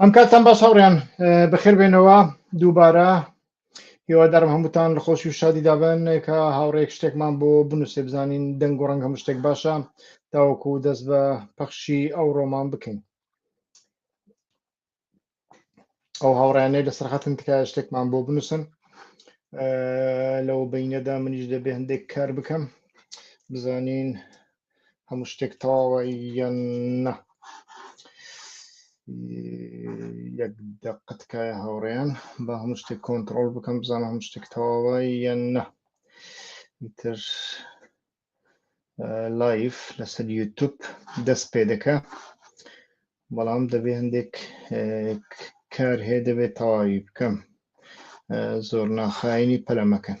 ئەم کاتان باش هاوڕیان بەخێربێنەوە دووبارە هێوادارم هەمووتان لە خۆشی و شادی دابن کە هاوڕێک شتێکمان بۆ بنووسێ بزانین دەنگ و ڕەنگ هەموو شتێک باشە تاوەکو دەست بە پەخشی ئەو ڕۆمان بکەین ئەو هاوڕیانەی لە سەرخەتن تکایە شتێکمان بۆ بنووسن لەو بینەدا منیش دەبێ هەندێک کار بکەم بزانین هەموو شتێک تەواوە یان نە یەک دەقتکایە هاوڕێیان بە هەموو شتێک کۆنتترۆل بکەم بزانە هەموو شتێک تەواوە یان نە تر لایف لەسەر یوتوب دەست پێ دەکە بەڵام دەبێ هەندێک کار هەیە دەبێت تەواوی بکەم زۆر ناخایانی پەلەمەکەن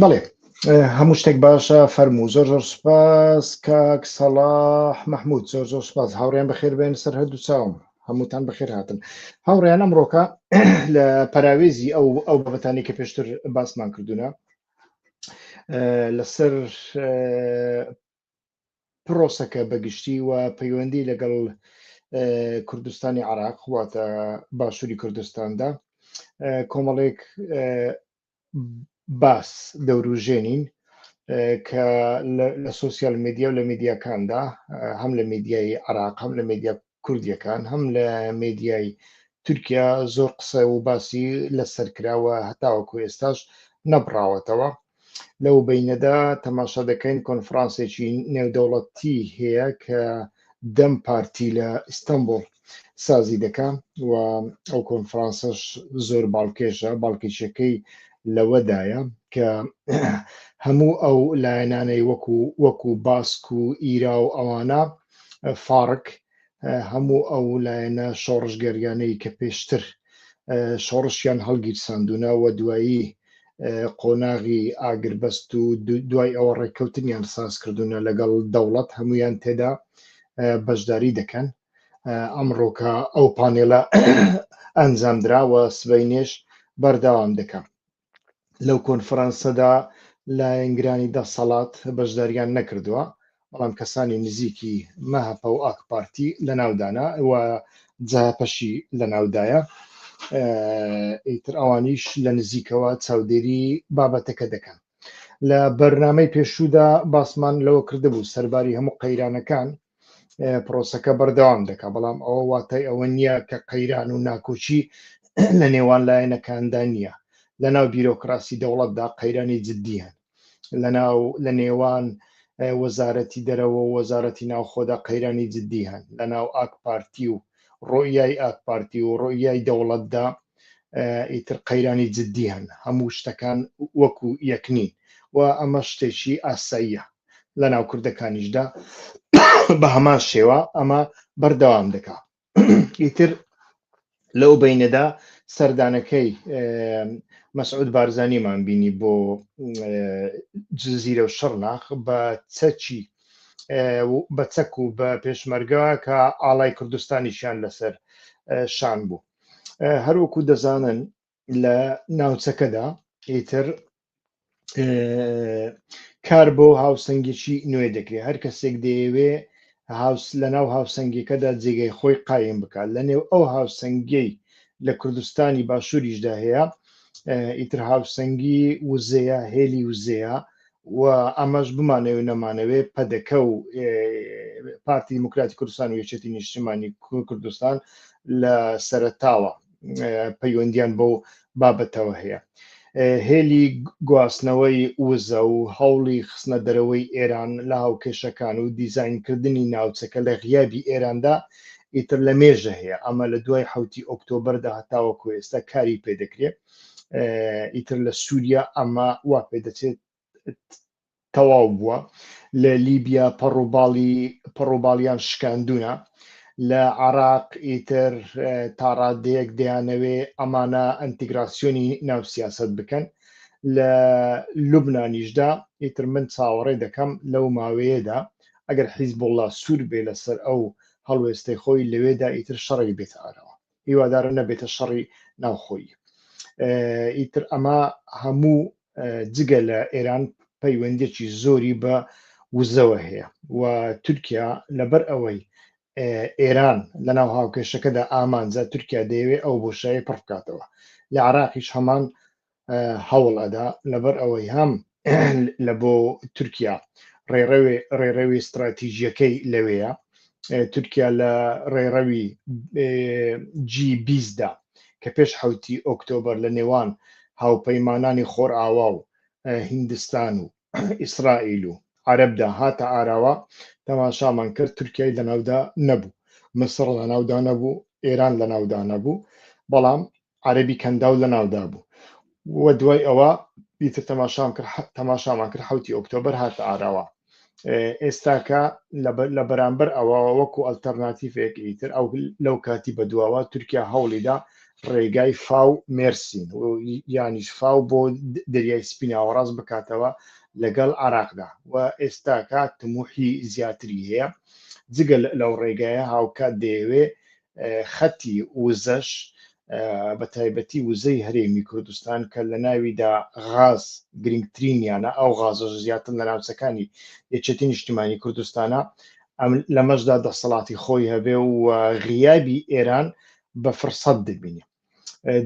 بەڵێ هەموو شتێک باشە فەرموو زۆر زۆر سپاس کاک سەڵاح مححمود زۆر زۆر سپاس هاوڕێن بەخێر بێن سەر هەردوو چاوم هەمووتان بەخێر هاتن هاوڕێن ئەمڕۆکە لە پەراوێزی ئەو ئەو بابەتانی کە پێشتر باسمان کردوونە لەسەر پرۆسەکە بە گشتی و پەیوەندی لەگەڵ کوردستانی عراق واتە باشووری کوردستاندا کۆمەڵێک باس دەوروژێنین کە لە سوسیال میدیا و لە میدیاکاندا هەم لە میدیای عراق هەم لە میدیا کوردیەکان هەم لە مێدیای تورکیا زۆر قسە و باسی لەسەر کراوە هەتاوەکو ئێستاش نەبڕاوەتەوە لەو بینەدا تەماشا دەکەین کۆنفرانسێکی نێودەوڵەتی هەیە کە دەم پارتی لە ئیستانبول سازی دەکە و ئەو کۆنفرانسەش زۆر باڵکێشە باڵکێشەکەی لەوەدایە کە هەموو ئەو لایەنانەی وەکو وەکو باسک و ئیرا و ئەوانە فارک هەموو ئەو لایەنە شۆڕشگەریانەی کە پێشتر شۆڕشیان هەڵگیرساندونا و دوایی قۆناغی ئاگربەست و دوای ئەوە ڕێککەوتنیان سازکردونە لەگەڵ دەوڵەت هەمویان تێدا بەشداری دەکەن ئەمڕۆکە ئەو پانێلە ئەنجامدراوە سبینێش بەردەوام دەکەم لەو کۆنفرانسەدا لایەنگرانی دەسەڵات بەشداریان نەکردووە بەڵام کەسانی نزیکی مەهەپە و ئاکپارتی لە ناودانا و جاپەشی لە ناودایە ئیتر ئەوانیش لە نزیکەوە چاودێری بابەتەکە دەکەن لە بەرنمەی پێشوودا باسمان لەوە کردبوو سەرباری هەموو قەیرانەکان پرۆسەکە بەردەوام دەکات بەڵام ئەوە واتای ئەوە نییە کە قەیران و ناکۆچی لە نێوان لایەنەکاندا نییە لە ناو بیرۆکراسی دەوڵەتدا قەیرانی جددیان لە ناو لە نێوان وەزارەتی دەرەوە و وەزارەتی ناوخۆدا قەیرانی جددی هەن لە ناو ئاک پارتی و ڕۆیای ئاک پارتی و ڕۆیای دەوڵەتدا ئیتر قەیرانی جددی هەن هەموو شتەکان وەکو یەکنین و ئەمە شتێکی ئاساییە لە ناو کوردەکانیشدا بە هەمان شێوە ئەمە بەردەوام دەکا ئیتر لەو بینەدا سەردانەکەی مەسعود بارزانیمان بینی بۆ جززیرە و شڕناخ بە چەچی بە چەک و بە پێشمەرگە کە ئاڵای کوردستانیشیان لەسەر شان بوو هەروەکو دەزانن لە ناوچەکەدا ئیتر کار بۆ هاوسەنگێکی نوێ دەکرێت هەر کەسێک دەیەوێ لە ناو هاوسەنگەکەدا جێگەی خۆی قایم بکات لە نێو ئەو هاوسەنگەی لە کوردستانی باشووریشدا هەیە ئیتر هاوسەنگی وزەیە هێلی وزەیە و ئەمەش بمانەوە نەمانەوێ پەدەکە و پارتی دیموکراتی کوردستان و یەکێتی نیشتمانی کوردستان لە سەرتاوە پەیوەندیان بەو بابەتەوە هەیە هێلی گواستنەوەی وزە و هەوڵی خستنە دەرەوەی ئێران لە هاوکێشەکان و دیزینکردنی ناوچەکە لە غیابی ئێراندا ئیتر لە مێژە هەیە ئەمە لە دوای حوتی ئۆکتۆبەردا هەتاوەکو ئێستا کاری پێدەکرێت ئیتر لە سووریا ئەمە وا پێدەچێت تەواو بووە لە لیبیا پەڕوباڵی پەڕوباڵیان شکاندونە لە عراق ئیتر تاڕادەیەک دەیانەوێ ئەمانە ئەنتیگراسیۆنی ناو سیاست بکەن لە لوبنانیشدا ئیتر من چاوەڕێ دەکەم لەو ماوەیەدا ئەگەر حیزبوڵا سوور بێ لەسەر ئەو هەڵوێستەی خۆی لەوێدا ئیتر شەڕێک بێتە ئارەوە هیوادارم نەبێتە شەڕی ناوخۆی ئیتر ئەمە هەموو جگە لە ئێران پەیوەندێکی زۆری بە وزەوە هەیە و تورکیا لەبەر ئەوەی ئێران لە ناو هاوکێشەکەدا ئامانجە تورکیا دەیەوێت ئەو بۆشایی پڕ بکاتەوە لە عراقیش هەمان هەوڵ ئەدا لەبەر ئەوەی هەم لە بۆ تورکیا ڕێڕەوێ ڕێڕەوی استراتیژیەکەی لەوەیە تورکیا لە ڕێڕەوی جی بیستدا کە پێش حوتی ئۆکتۆبر لە نێوان هاوپەیمانانی خۆرئاوا و هندستان و ئیسرائیل و عەرەبدا هاتە ئاراوە، تەماشامان کرد تورکیای لەناودا نەبوو، مسڕ لەناودا نەبوو، ئێران لەناودا نەبوو، بەڵام عەرەبی کەنداو لەناودا بوو و دوای ئەوە ئیتر تەماشام کرد تەماشامان کرد حوتی ئۆکتۆبەر هاتە ئاراوە. ئێستاکە لە بەرامبەر ئەوە وەکو ئەلتەرناتیفێک ئیتر ئەو لەو کاتی بەدواوە تورکیا هەوڵیدا ڕێگای فاو مێرسین و یانیش فاو بۆ دەریای سپیناوەڕاست بکاتەوە لەگەڵ عراقدا و ئێستاکە تموحی زیاتری هەیە جگە لەو ڕێگایە هاوکات دەیەوێ خەتی وزەش بە تایبەتی وزەی هەرێمی کوردستان کە لە ناویدا غاز گرنگترینیانە ئەو غازە زیاتر لە ناوچەکانی یەکێتی نیشتیمانی کوردستانە لەمەشدا دەسەڵاتی خۆی هەبێ و غیابی ئێران بە فرسەت دەبینین.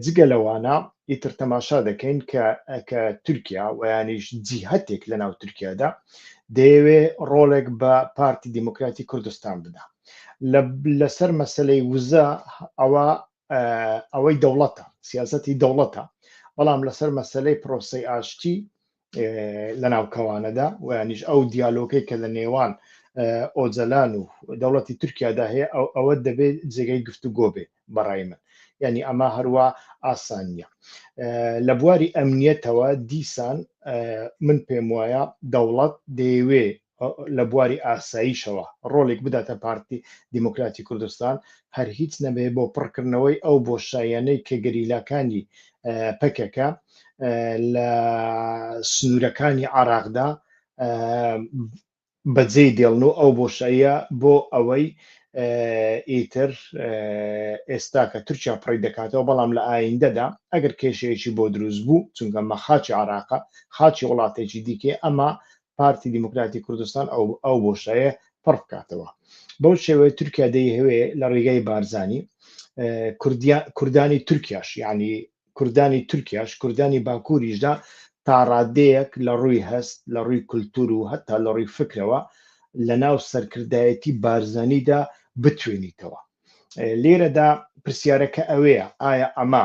جگە لەوانە ئیتر تەماشا دەکەین کە کە تورکیا ویانیش جیهتێک لە ناو تورکیادا دەیەوێ ڕۆڵێک بە پارتی دیموکراتی کوردستان بدا لەسەر مەسلەی وزە ئەوە ئەوەی دەوڵەتە سیاستی دەوڵەتە بەڵام لەسەر مەسلەی پرۆسی ئاشتی لەناو کەوانەدا ویانیش ئەو دیالۆکەی کە لە نێوان ئۆجەلان و دەوڵەتی تورکیادا هەیە ئەو ئەوە دەبێت جێگەی گفتوگۆ بێ بەڕای من ینی ئەمە هەروە ئاسانیە لە بواری ئەمنیەتەوە دیسان من پێم وایە دەوڵەت دەیەوێ لە بواری ئاسایشەوە ڕۆڵێک بداتە پارتی دیموکراتی کوردستان، هەر هیچ نەبێ بۆ پڕکردنەوەی ئەو بۆشاییانەی کە گەریلاکانی پەکەکە لە سنوورەکانی عێراقدا بەجێی دێڵن و ئەو بۆشاییە بۆ ئەوەی ئیتر ئێستا کە تورکیا پڕی دەکاتەوە بەڵام لە ئایندەدا ئەگەر کێشەیەکی بۆ دروست بوو چونکە مە خاچی عراقە خاچی وڵاتێکی دیکێ ئەمە پارتی دیموکراتی کوردستان ئەو بۆشایە پڕ بکاتەوە بەو شێوەیە تورکیا دەیهوێ لە ڕێگای بارزانی کوردانی تورکیاش یعنی کوردانی تورکیاش کوردانی باکووریشدا تا ڕادەیەک لە ڕووی هەست لە ڕووی کولتور و هەتا لە ڕووی فکرەوە لە ناو سەرکردایەتی بارزانیدا بتوێنیتەوە لێرەدا پرسیارەکە ئەوەیە ئایا ئەمە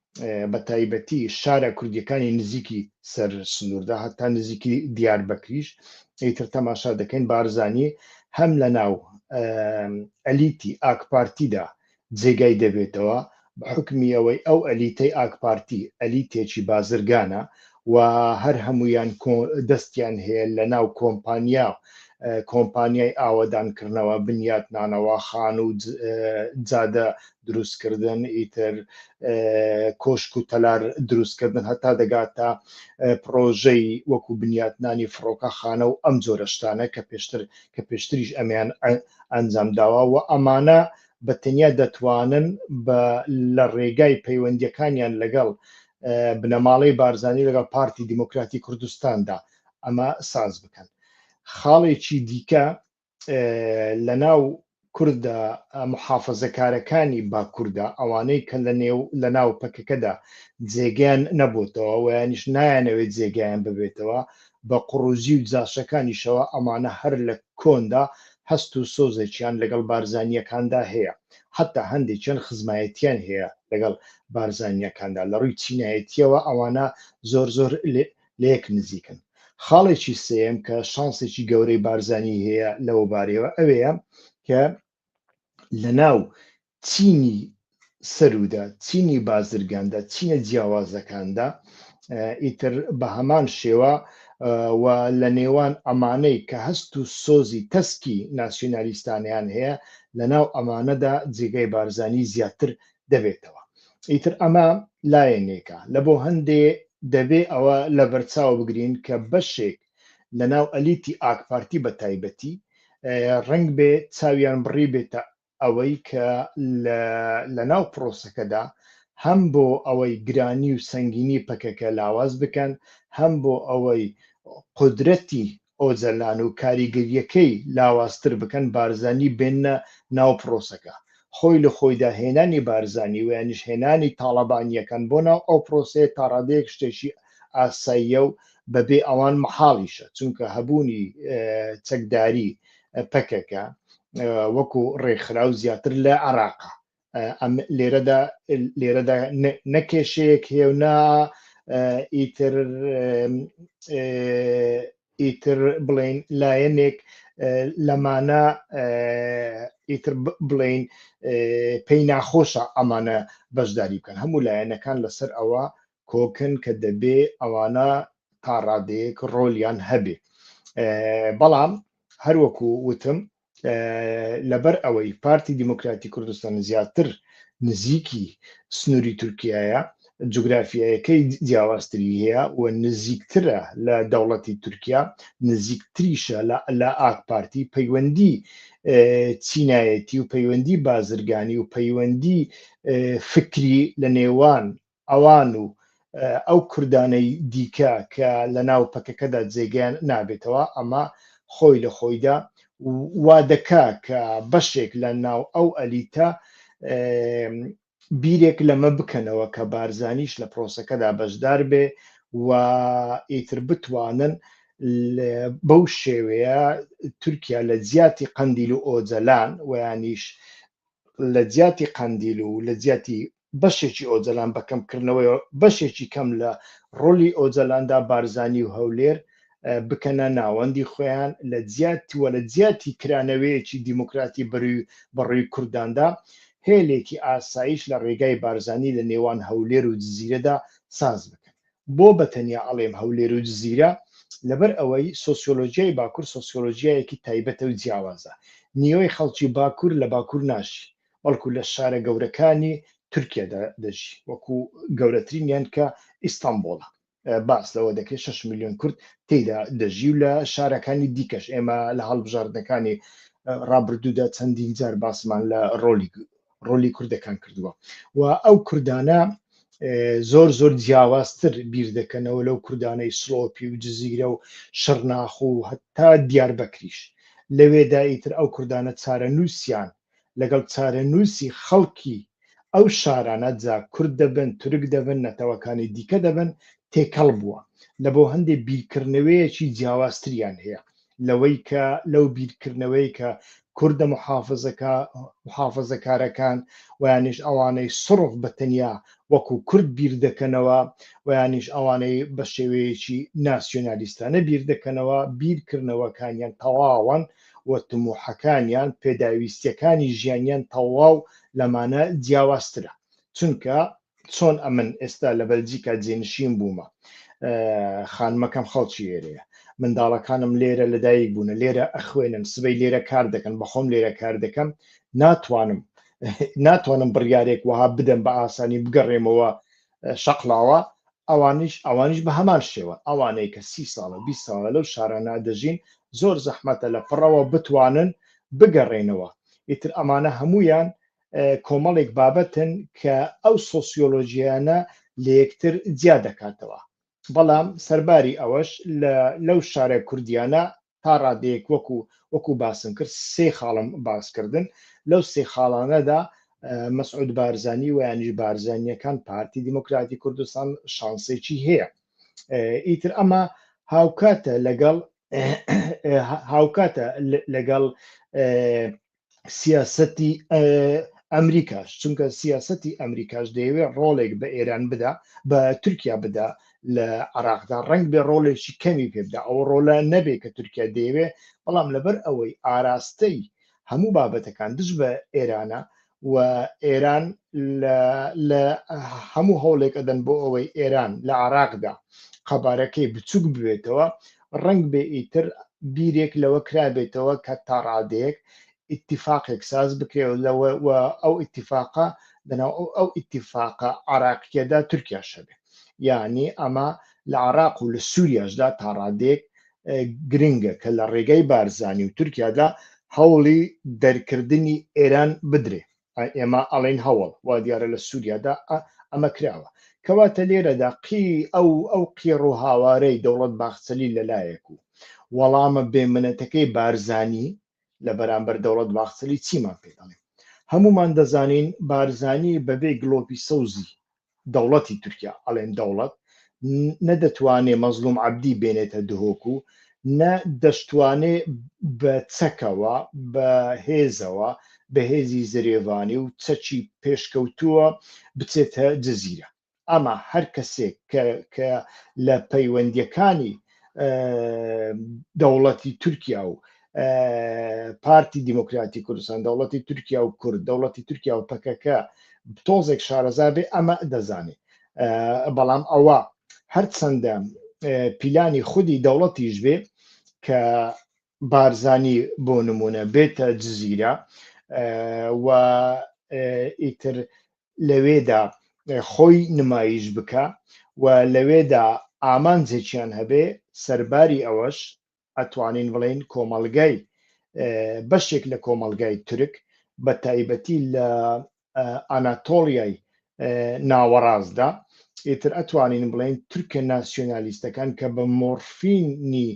بە تایبەتی شارە کوردیەکانی نزیکی سەر سنووردا هەتا نزیکی دیار بەکریش ئیتر تەماشا دەکەین بارزانانی هەم لە ناو ئەلیتی ئاکپارتیدا جێگای دەبێتەوە حکمی ئەوەی ئەو ئەلیتەی ئاکپارتی ئەلیتێکی بازرگانە و هەر هەمویان دەستیان هەیە لە ناو کۆمپانیا و کۆمپانیای ئاوەدانکردنەوە بنیاتنانەوە خان و جادە دروستکردن ئیتر کۆشک و تەلار دروستکردن هەتا دەگاتە پرۆژەی وەکو بنیاتنانی فڕۆکەخانە و ئەم جۆرە شتانە کە پێشتر کە پێشتریش ئەمیان ئەنجام داوە و ئەمانە بە تەنیا دەتوانن بە لە ڕێگای پەیوەندیەکانیان لەگەڵ بنەماڵەی بارزانانی لەگەڵ پارتی دیموکراتی کوردستاندا ئەمە ساز بکەن خاڵێکی دیکە لە ناو کوردە محافەزەکارەکانی باکووردا ئەوانەی کە لە نێو لە ناو پەکەکەدا جێگەیان نەبووتەوە ویانیش نایەنەوەی جێگەیان ببێتەوە بە قڕوزی و جاشەکانیشەوە ئەمانە هەر لە کۆندا هەست و سۆزێکیان لەگەڵ بارزانیەکاندا هەیە حتا هەندێکیان خزمایەتیان هەیە لەگەڵ بارزانیەکاندا لە ڕووی چینایەتیەوە ئەوانە زۆر زۆر لەیەک نزیکن خاڵێکی سێم کە شانسێکی گەورەی بارزانی هەیە لەوە بارەوە ئەوەیە کە لە ناو چینی سەرودا چینی بازرگاندا چینە جیاوازەکاندا ئیتر بە هەمان شێوە و لە نێوان ئەمانەی کە هەست و سۆزی تەسکی ناسیۆنالیستانیان هەیە لە ناو ئەمانەدا جێگای بارزانی زیاتر دەبێتەوە ئیتر ئەمە لایەنێکە لە بۆ هەندێ دەبێ ئەوە لە بەرچاو بگرین کە بەشێک لە ناو ئەلیتی ئاکپارتی بە تایبەتی ڕنگ بێ چاویان بڕی بێتە ئەوەی کە لە ناو پرۆسەکەدا هەم بۆ ئەوەی گرانی و سنگینی پەکەکە لاواز بکەن هەم بۆ ئەوەی قدرەتی ئۆجەلان و کاریگەرییەکەی لاوازتر بکەن، بارزانی بێننە ناو پرۆسەکە. خۆی لە خۆیدا هێنانی بارزانی و یانیش هێنانی تاڵەبانییەکان بۆ ناو ئەو پرۆسەیە تا ڕادەیەک شتێکی ئاساییە و بەبێ ئەوان مەحاڵیشە، چونکە هەبوونی چەکداری پەکەکە وەکو ڕێکخراو زیاتر لە عێراقە ئەم لێرەدا لێرەدا نەکێشەیەک هێونا ئیتر ئیتر بڵین لایەنێک لەمانە ئیتر بڵین پێی ناخۆشە ئەمانە بەشداری بکەن هەموو لایەنەکان لەسەر ئەوە کۆکن کە دەبێ ئەوانە تا ڕادەیەک ڕۆلیان هەبێ بەڵام هەروەکو وتم لەبەر ئەوەی پارتی دیموکراتی کوردستان زیاتر نزیکی سنووری تورکایە جوگرافیایەکەی جیاوازتری هەیە و نزیکترە لە دەوڵەتی تورکیا نزیکتریشە لە ئاک پارتی پەیوەندی چینایەتی و پەیوەندی بازرگانی و پەیوەندی فکری لە نێوان ئەوان و ئەو کوردانەی دیکە کە لە ناو پەکەکەدا جێگەیان نابێتەوە، ئەمە خۆی لە خۆیدا وا دەکا کە بەشێک لە ناو ئەو ئەلیتە بیرێک لەمە بکەنەوە کە بارزانیش لە پرۆسەکەدا بەشدار بێ و ئیتر بتوانن بەو شێوەیە تورکیا لە جیاتی قەندیل و ئۆجەلان ویانیش لە جیاتی قەندیل و لە جیاتی بەشێکی ئۆجەلان بە کەم کردنەوەی بەشێکی کەم لە ڕۆلی ئۆجەلاندا بارزانی و هەولێر بکەنە ناوەندی خۆیان لە جیات و لە جیاتی کرانەوەیەکی دیموکراتی بەروی بەڕووی کورداندا هێلێکی ئاسایش لە ڕێگای بارزانی لە نێوان هەولێر و جزیرەدا ساز بکەن بۆ بەتەنیا ئەڵێم هەولێر و جزیرە لەبەر ئەوەی سۆسیۆلۆژیای باکوور سۆسیۆلۆژیایەکی تایبەتە و جیاوازە نیوەی خەڵکی باکوور لە باکوور ناشی بەڵکو لە شارە گەورەکانی تورکیادا دەژی وەکو گەورەترینیان کە ئیستەنبوڵە باس لەوە دەکرێت 6 میلیۆن کورد تێیدا دەژی و لە شارەکانی دیکەش ئێمە لە هەڵبژاردنەکانی ڕابردوودا چەندین جار باسمان لە ڕۆلی ڕۆلی کوردەکان کردووە و ئەو کوردانە زۆر زۆر جیاوازتر بیر دەکەنەوە لەو کوردانەی سڵۆپی و جززیرە و شەرناخ و هەتا دیار بەکریش لەوێدا ئیتر ئەو کوردانە چارە نووسیان لەگەڵ چارەنووسی خەڵکی ئەو شارانە، جا کورد دەبن، تورک دەبن، نەتەوەکانی دیکە دەبن، تێکەڵ بووە. لە بۆ هەندێ بیرکردنەوەیەکی جیاوازتریان هەیە لەوەی کە لەو بیرکردنەوەی کە کوردە محافزەکا محافزەکارەکان و یانیش ئەوانەی سڕف بە تەنیا وەکو کورد بیر دەکەنەوە و یانیش ئەوانەی بە شێوەیەکی ناسیۆنالیستانە بیر دەکەنەوە بیرکردنەوەکانیان تەواوەن و تموحەکانیان پێداویستیەکانی ژیانیان تەواو لەمانە جیاوازترە چونکە چۆن ئەمن ئێستا لە بەلجیکا جێنشین بوومە خانمەکەم خەڵکی ئێرەیە منداڵەکانم لێرە لەدایک بوونە لێرە ئەخوێنن سبەی لێرە کار دەکەن بەخۆم لێرە کار دەکەم ناتوانم ناتوانم بڕیارێک وەها بدەم بە ئاسانی بگەڕێمەوە شەقڵاوە، ئەوانیش ئەوانیش بە هەمان شێوە، ئەوانەی کە سی ساڵە بیست ساڵە لەو شارانە دەژین، زۆر زەحمەتە لە پڕەوە بتوانن بگەڕێنەوە، ئیتر ئەمانە هەموویان کۆمەڵێک بابەتن کە ئەو سۆسیۆلۆژیانە لە یەکتر جیا دەکاتەوە، بەڵام سەرباری ئەوەش لەو شارە کوردیانە تا ڕادەیەک وەکو وەکو باسم کرد سێ خاڵم باسکردن لەو سێ خاڵانەدا مەسعود بارزانانی و یانیش بارزانانیەکان پارتی دیموکراتی کوردستان شانسێکی هەیە ئیتر ئەمە هاوکاتە لەگەڵ هاوکاتە لەگەڵ سیاسەتی ئەمریکاش چونکە سیاسەتی ئەمریکاش دەیەوێت ڕۆڵێک بە ئێران بدا بە تورکیا بدا لە عراقدا ڕنگ بێ ڕۆڵێکی کەمی پێبدا ئەو ڕۆلە نەبێت کە تورکیا دەیەوێ بەڵام لەبەر ئەوەی ئاراستەی هەموو بابەتەکان دژ بە ئێرانە و ئێران لە هەموو هەوڵێک ئەدەن بۆ ئەوەی ئێران لە عراقدا قەبارەکەی بچووک بێتەوە ڕەنگبێ ئیتر بیرێک لەوە کرابێتەوە کە تا ڕادەیەک ئیتیفاقێک ساز بکرێ و لەوە و ئەو ئیتیفاقە لەناو ئەو ئەو ئیتیفاقە عراقیەدا تورکیاش هەبێ یعنی ئەمە لە عراق و لە سووریاشدا تا ڕادەیەک گرنگە کە لە ڕێگای بارزانی و تورکیادا هەوڵی دەرکردنی ئێران بدرێ ئێمە ئەڵێین هەوڵ وا دیارە لە سووریادا ئەمە کراوە. کەواتە لێرەدا قی ئەو ئەو قیڕ و هاوارەی دەوڵەت باخچەلی لە لایەک و وەڵامە بێ منەتەکەی بارزانی لە بەرامبەر دەوڵەت باخچەلی چیمان پێ دەڵێ؟ هەموومان دەزانین بارزانی بەبێ گڵۆپی سەوزی دەوڵەتی تورکیا ئەڵێن دەوڵەت نە دەتوانێ مەزلوم عەبدی بێنێتە دهۆک و نە دەشتوانێ بە چەکەوە بە هێزەوە بەهێزی زرێڤانی و چەکی پێشکەوتووە بچێتە جززیرە ئەما هەر کەسێک کە لە پەیوەندیەکانی دەوڵەتی تورکیا و پارتی دیموکراتی کوردستان دەوڵەتی تورکیا و کورد دەوڵەتی تورکیا و پەکەکە تۆزێک شارەزا بێ ئەمە دەزانێت بەڵام ئەوە هەرچەندە پیلانی خودی دەوڵەتیش بێ کە بارزانی بۆ نمونە بێتە جززیرە و ئیتر لەوێدا خۆی نمایش بکە و لەوێدا ئامانجێکیان هەبێ سەرباری ئەوەش ئەتوانین بڵێین کۆمەڵگای بەشێک لە کۆمەلگای تورک بە تایبەتی لە ئەناتۆڵیای ناوەڕاستدا ئیتر ئەتوانین بڵێن تورکە ناسیۆنالیستەکان کە بە مۆرفینی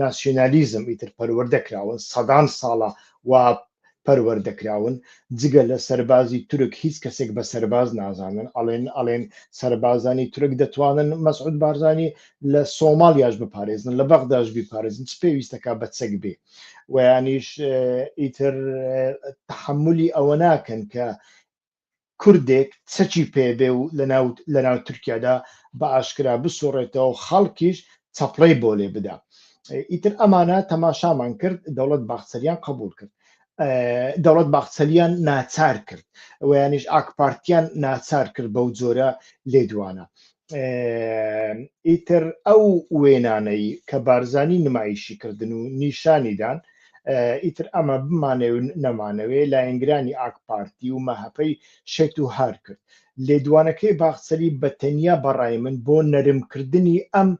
ناسیۆنالیزم ئیتر پەروەردە کراون سەدان ساڵە و پەروەردە کراون جگە لە سەربازی تورک هیچ کەسێک بە سەرباز نازانن ئەڵێن ئەڵێن سەربازانی تورک دەتوانن مەسعود بارزانی لە سۆماڵیاش بپارێزن لە بەغداش بیپارێزن چ پێویستەکە بە چەک بێ ویانیش ئیتر تحملی ئەوە ناکەن کە کوردێک چەکی پێ بێ و لەناو تورکیادا بە ئاشکرا بسوڕێتەوە و خەڵکیش چەپڵەی بۆ لێ بدا ئیتر ئەمانە تەماشامان کرد دەوڵەت باخچەلیان قبول کرد دەوڵەت باخچەلیان ناچار کرد ویانیش ئاکپارتیان ناچار کرد بەو جۆرە لێدوانە ئیتر ئەو وێنانەی کە بارزانی نمایشی کردن و نیشانی دان ئیتر ئەمە بمانێ و نەمانەوێ لایەنگرانی ئاک پارتی و مەهەپەی شێت و هار کرد لێدوانەکەی باخچەلی بە تەنیا بەڕای من بۆ نەرمکردنی ئەم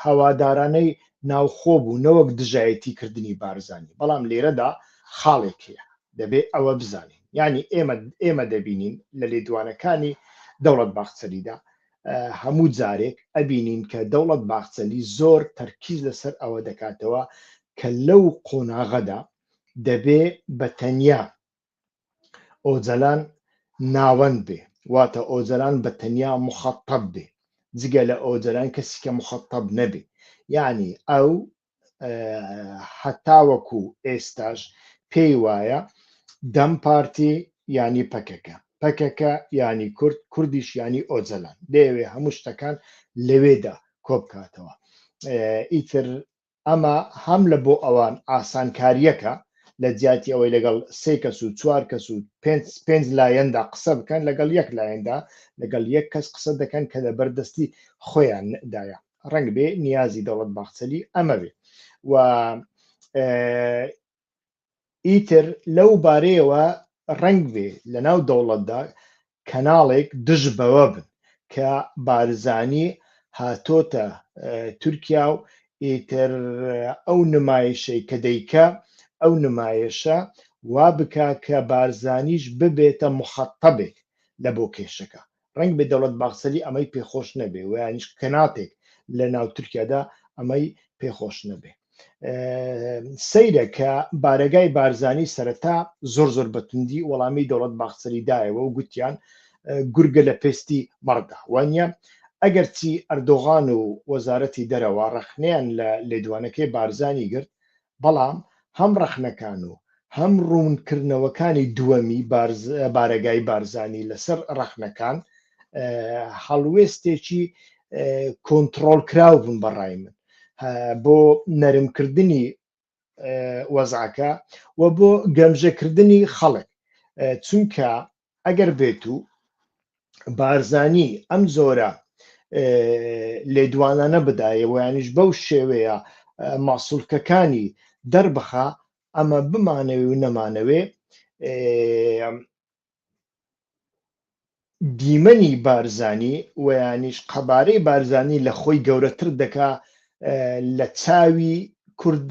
هەوادارانەی ناوخۆ بوو نەوەک دژایەتی کردنی بارزانانی بەڵام لێرەدا خاڵێک هەیە دەبێ ئەوە بزانین یعنی ئێمە ئێمە دەبینین لە لێدوانەکانی دەوڵەت باخچەلیدا هەموو جارێک ئەبینین کە دەوڵەت باخچەلی زۆر تەرکیز لەسەر ئەوە دەکاتەوە کە لەو قۆناغەدا دەبێ بە تەنیا ئۆجەلان ناوەند بێ واتە ئۆجەلان بە تەنیا مخەتەب بێ جگە لە ئۆجەلان کەسیکە مخەتەب نەبێ یعنی ئەو هەتاوەکو ئێستاش پێی وایە دەم پارتی ینی پەکەکە پەکەکە ینی کورد کوردیش ینی ئۆجەلان دەیەوێ هەموو شتەکان لەوێدا کۆبکاتەوە ئیتر ئەمە هەم لە بۆ ئەوان ئاسانکاریەکە لە جیاتی ئەوەی لەگەڵ سێ کەس و چوار کەس و پێنج لایەندا قسە بکەن لەگەڵ یەک لایەندا لەگەڵ یەک کەس قسە دەکەن کە لە بەردەستی خۆیاندایە ڕەنگ بێ نیازی دەوڵەت باخچەلی ئەمە بێ و ئیتر لەو بارەیەوە ڕنگ بێ لە ناو دەوڵەتدا کەناڵێک دژ بەوە بن کە بارزانی هاتۆتە تورکیا و ئیتر ئەو نمایشەی کە دەیکە ئەو نمایشە وا بکە کە بارزانیش ببێتە مخەتەبێک لە بۆ کێشەکە ڕەنگبێ دەوڵەت باخچەلی ئەمەی پێخۆش نەبێ و یانیش کەناپێک لە ناو تورکیادا ئەمەی پێخۆش نەبێ سەیرە کە بارەگای بارزانی سەرەتا زۆر زۆر بەتوندی وەڵامی دەوڵەت باخچەلی دایەوە و گوتیان گورگە لە پێستی مەڕدا وانە ئەگەرچی ئەردۆغان و وەزارەتی دەرەوە ڕەخنیان لە لێدوانەکەی بارزانی گرت بەڵام هەم ڕەخنەکان و هەم ڕوونکردنەوەکانی دووەمی بارەگای بارزانی لەسەر ڕەخنەکان هەڵوێستێکی کۆنتڕۆڵکراو بوون بە ڕای من بۆ نەرمکردنی وەزعەکە و بۆ گەمژەکردنی خەڵک چونکە ئەگەر بێت و بارزانی ئەم جۆرە لێدوانانە بدایە ویانیش بەو شێوەیە ماسوولکەکانی دەربخە ئەمە بمانەوێ و نەمانەوێ دیمەنی بارزانی ویانیش قەبارەی بارزانی لە خۆی گەورەتر دەکا لە چاوی کورد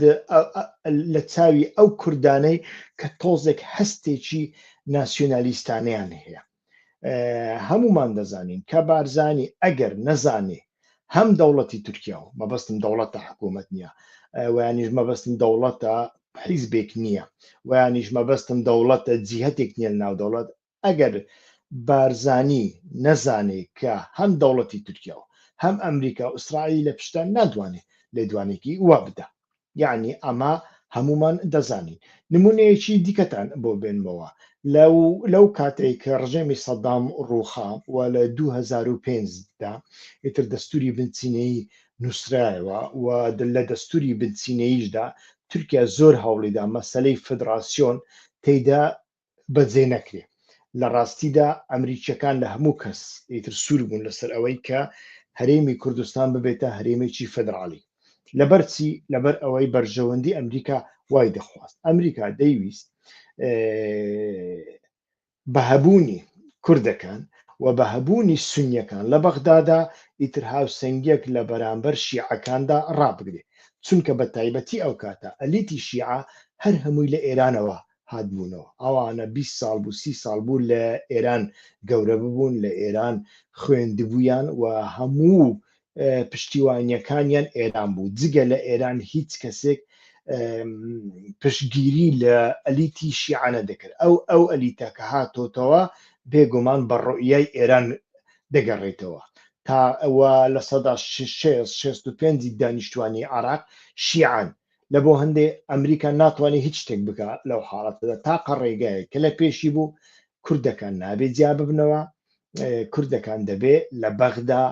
لە چاوی ئەو کوردانەی کە تۆزێک هەستێکی ناسیۆنالیستانیان هەیە هەمومان دەزانین کە بارزانی ئەگەر نەزانێ هەم دەوڵەتی تورکیا و مەبەستم دەوڵەتە حکوومەت نییە ویانیش مەبەستم دەوڵەتە حیزبێک نییە ویانیش مەبەستم دەوڵەتە جیهتێک نییە ناو دەوڵەت ئەگەر بارزانی نەزانێ کە هەم دەوڵەتی تورکیا و هەم ئەمریکا و ئیسرائیل لە پشتە ناتوانێ لێدوانێکی وا بدا یەعنی ئەمە هەموومان دەزانین نمونەیەکی دیکەتان بۆ بێنمەوە لەو لەو کاتەی کە ڕژێمی سەدام ڕووخا و لە 2005 دا ئیتر دەستوری بنچینەیی نووسرایەوە و لە دەستوری بنچینەییشدا تورکیا زۆر هەوڵیدا مەسلەی فدراسیۆن تێیدا بەجێ نەکرێ لە ڕاستیدا ئەمریکیەکان لە هەموو کەس ئیتر سوور بوون لەسەر ئەوەی کە هەرێمی کوردستان ببێتە هەرێمێکی فدراڵی لەبەرچی لەبەر ئەوەی بەرژەوەندی ئەمریکا وای دەخواست ئەمریکا دەیویست بە هەبوونی کوردەکان و بە هەبوونی سنیەکان لە بەغدادا ئیتر هاوسنگێک لە بەرامبەر شیعەکاندا ڕابگرێ چونکە بە تایبەتی ئەو کاتە ئەلیتی شیعە هەر هەمووی لە ئێرانەوە هاتبوونەوە ئەوانە بیست ساڵ بوو سی ساڵ بوو لە ئێران گەورە ببوون لە ئێران خوێندبوویان و هەموو پشتیوانیەکانیان ئێران بوو جگە لە ئێران هیچ کەسێک پشگیری لە ئەلیتی شیعانە دەکرد ئەو ئەو ئەلیتە کە هاتۆتەوە بێگومان بە ڕۆیای ئێران دەگەڕێتەوە تا ئەوە لە سەدا 6 پێنجی دانیشتوانی عراق شیعان لە بۆ هەندێ ئەمریکا ناتوانێ هیچ شتێک بکا لەو حاڵەتەدا تاقە ڕێگایەک کە لە پێشی بوو کوردەکان نابێ جیا ببنەوە کوردەکان دەبێ لە بەغدا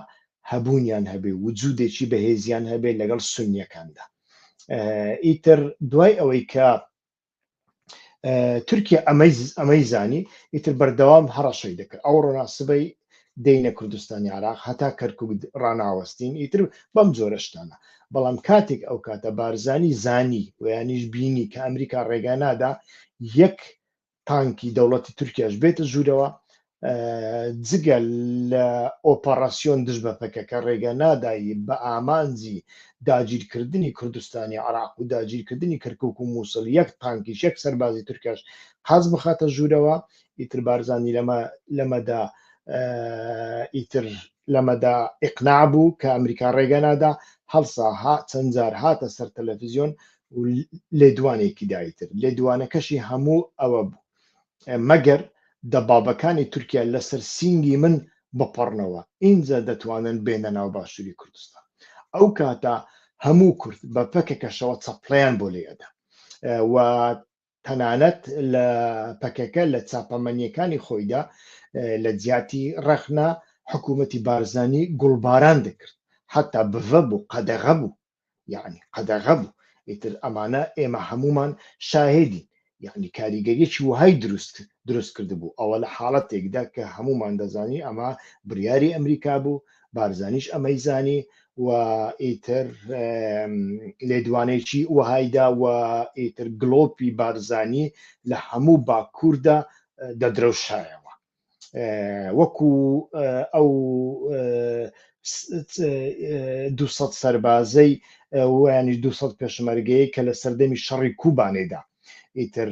هەبوونیان هەبێ وجودێکی بەهێزیان هەبێ لەگەڵ سنیەکاندا ئیتر دوای ئەوەی کە تورکیا ئەمەی ئەمەی زانی ئیتر بەردەوام هەڕەشەی دەکرد ئەو ڕۆنا سبەی دینە کوردستانی عراق هەتا کەرکک ڕناوەستین ئیتر بەم جۆرەشتانە بەڵام کاتێک ئەو کاتە بارزانی زانی ویانیش بینی کە ئەمریکا ڕێگا نادا یەک تانکی دەوڵەتی تورکیاش بێتە ژوورەوە جگە لە ئۆپەڕاسیۆن دژ بە پەکەکە ڕێگە نادایی بە ئامانجی داگیرکردنی کوردستانی عراق و داگیرکردنی کەرکک و مووسڵ یەک تانکیش یەک سەربازی تورکش قاز بخاتە ژوورەوە ئیتر بارزانانی لەمە لەمەدا ئیتر لەمەدا ئقنا بوو کە ئەمریکا ڕێگە نادا هەڵسا ها چەندجار هاتە سەر تەلەڤزیۆن لێدوانێکی دایتر لێدوانەکەشی هەموو ئەوە بوو مەگەر دەبابەکانی تورکیا لەسەر سینگی من بپەڕنەوە ئینجا دەتوانن بێنە ناو باشوری کوردستان ئەو کاتە هەموو کورد بە پەکەکەشەوە چەپڵیان بۆ لێ ئەدا و تەنانەت لە پەکەکە لە چاپەمەنیەکانی خۆیدا لە جیاتی ڕەخنا حکوومەتی بارزانی گوڵباران دەکرد حتا بڤە بوو قەدەغە بوو یەعنی قەدەغە بوو ئیتر ئەمانە ئێمە هەموومان شاهێدین یەعنی کاریگەریەکی وەهای دروست دروست کردبوو ئەوە لە حاڵەتێکدا کە هەموومان دەزانی ئەمە بریاری ئەمریکا بوو بارزانیش ئەمەی زانی و ئیتر لێدوانێکی وەهایدا و ئیتر گلۆپی بارزانی لە هەموو باکووردا دەدرەوشایەوە وەکو ئەو دو سەربازەی ویانی دو پێشمەرگەیە کە لە سەردەمی شەڕی کوبانێدا ئیتر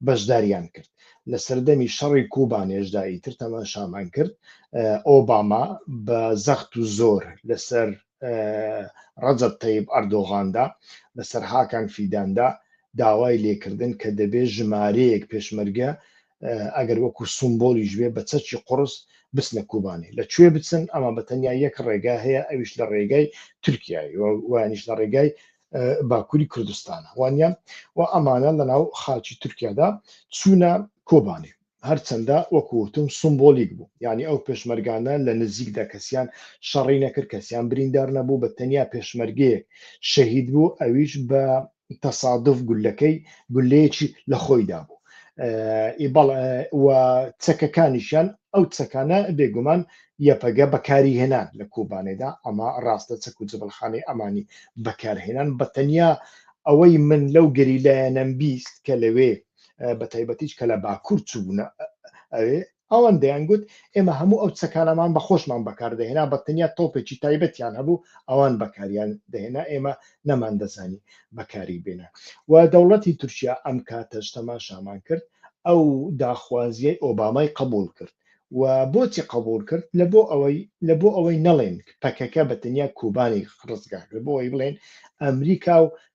بەشداریان کرد لە سەردەمی شەڕی کوبانێشدا ئیتر تەمان شامان کرد ئۆباما بە زەخت و زۆر لەسەر ڕەجب تەیب ئەردۆغاندا لەسەر هاکان فیداندا داوای لێکردن کە دەبێت ژمارەیەک پێشمەرگە ئەگەر وەکو سومبۆلیش بێ بە چەکی قڕس بچنە کوبانێ لە کوێ بچن ئەمە بە تەنیا یەک ڕێگا هەیە ئەویش لە ڕێگای تورکیایی وانیش لە ڕێگای باکووری کوردستانە وانە و ئەمانە لە ناو خاچی تورکیادا چوونە کۆبانێ هەرچەندە وەکوتم سمبۆلیک بوو یعنی ئەو پێشمەرگانە لە نزیکدا کەسیان شەڕی نەکرد کەسیان بریندار نەبوو بە تەنیا پێشمەرگەیەک شەهید بوو ئەویش بە تەسادف گولەکەی گولەیەکی لە خۆیدا بوو و چەکەکانیشیان ئەو چەکانە بێگومان یەپەگە بەکاری هێنان لە کوبانێدا ئەمە ڕاستە چەک و جبلخانەی ئەمانی بەکارهێنان بە تەنیا ئەوەی من لەو گەریلایەنەم بیست کە لەوێ بە تایبەتیش کە لە باکوور چوونە ئەوێ ئەوان دەیانگوت ئێمە هەموو ئەو چەکانەمان بە خۆشمان بەکاردەهێنا بە تەنیا تۆپێکی تایبەتیان هەبوو ئەوان بەکاریان دەهێنا ئێمە نەماندەزانی بەکاری بێنە و دەوڵەتی تورکیا ئەم کاتەش تەماشامان کرد ئەو داخوازیەی ئۆبامای قبول کرد و بۆچی قبول کرد لە بۆ ئەوەی لە بۆ ئەوەی نەڵێن پەکەکە بە تەنیا کوبانی ڕزگار لە بۆ ئەوەی بڵێن ئەمریکا و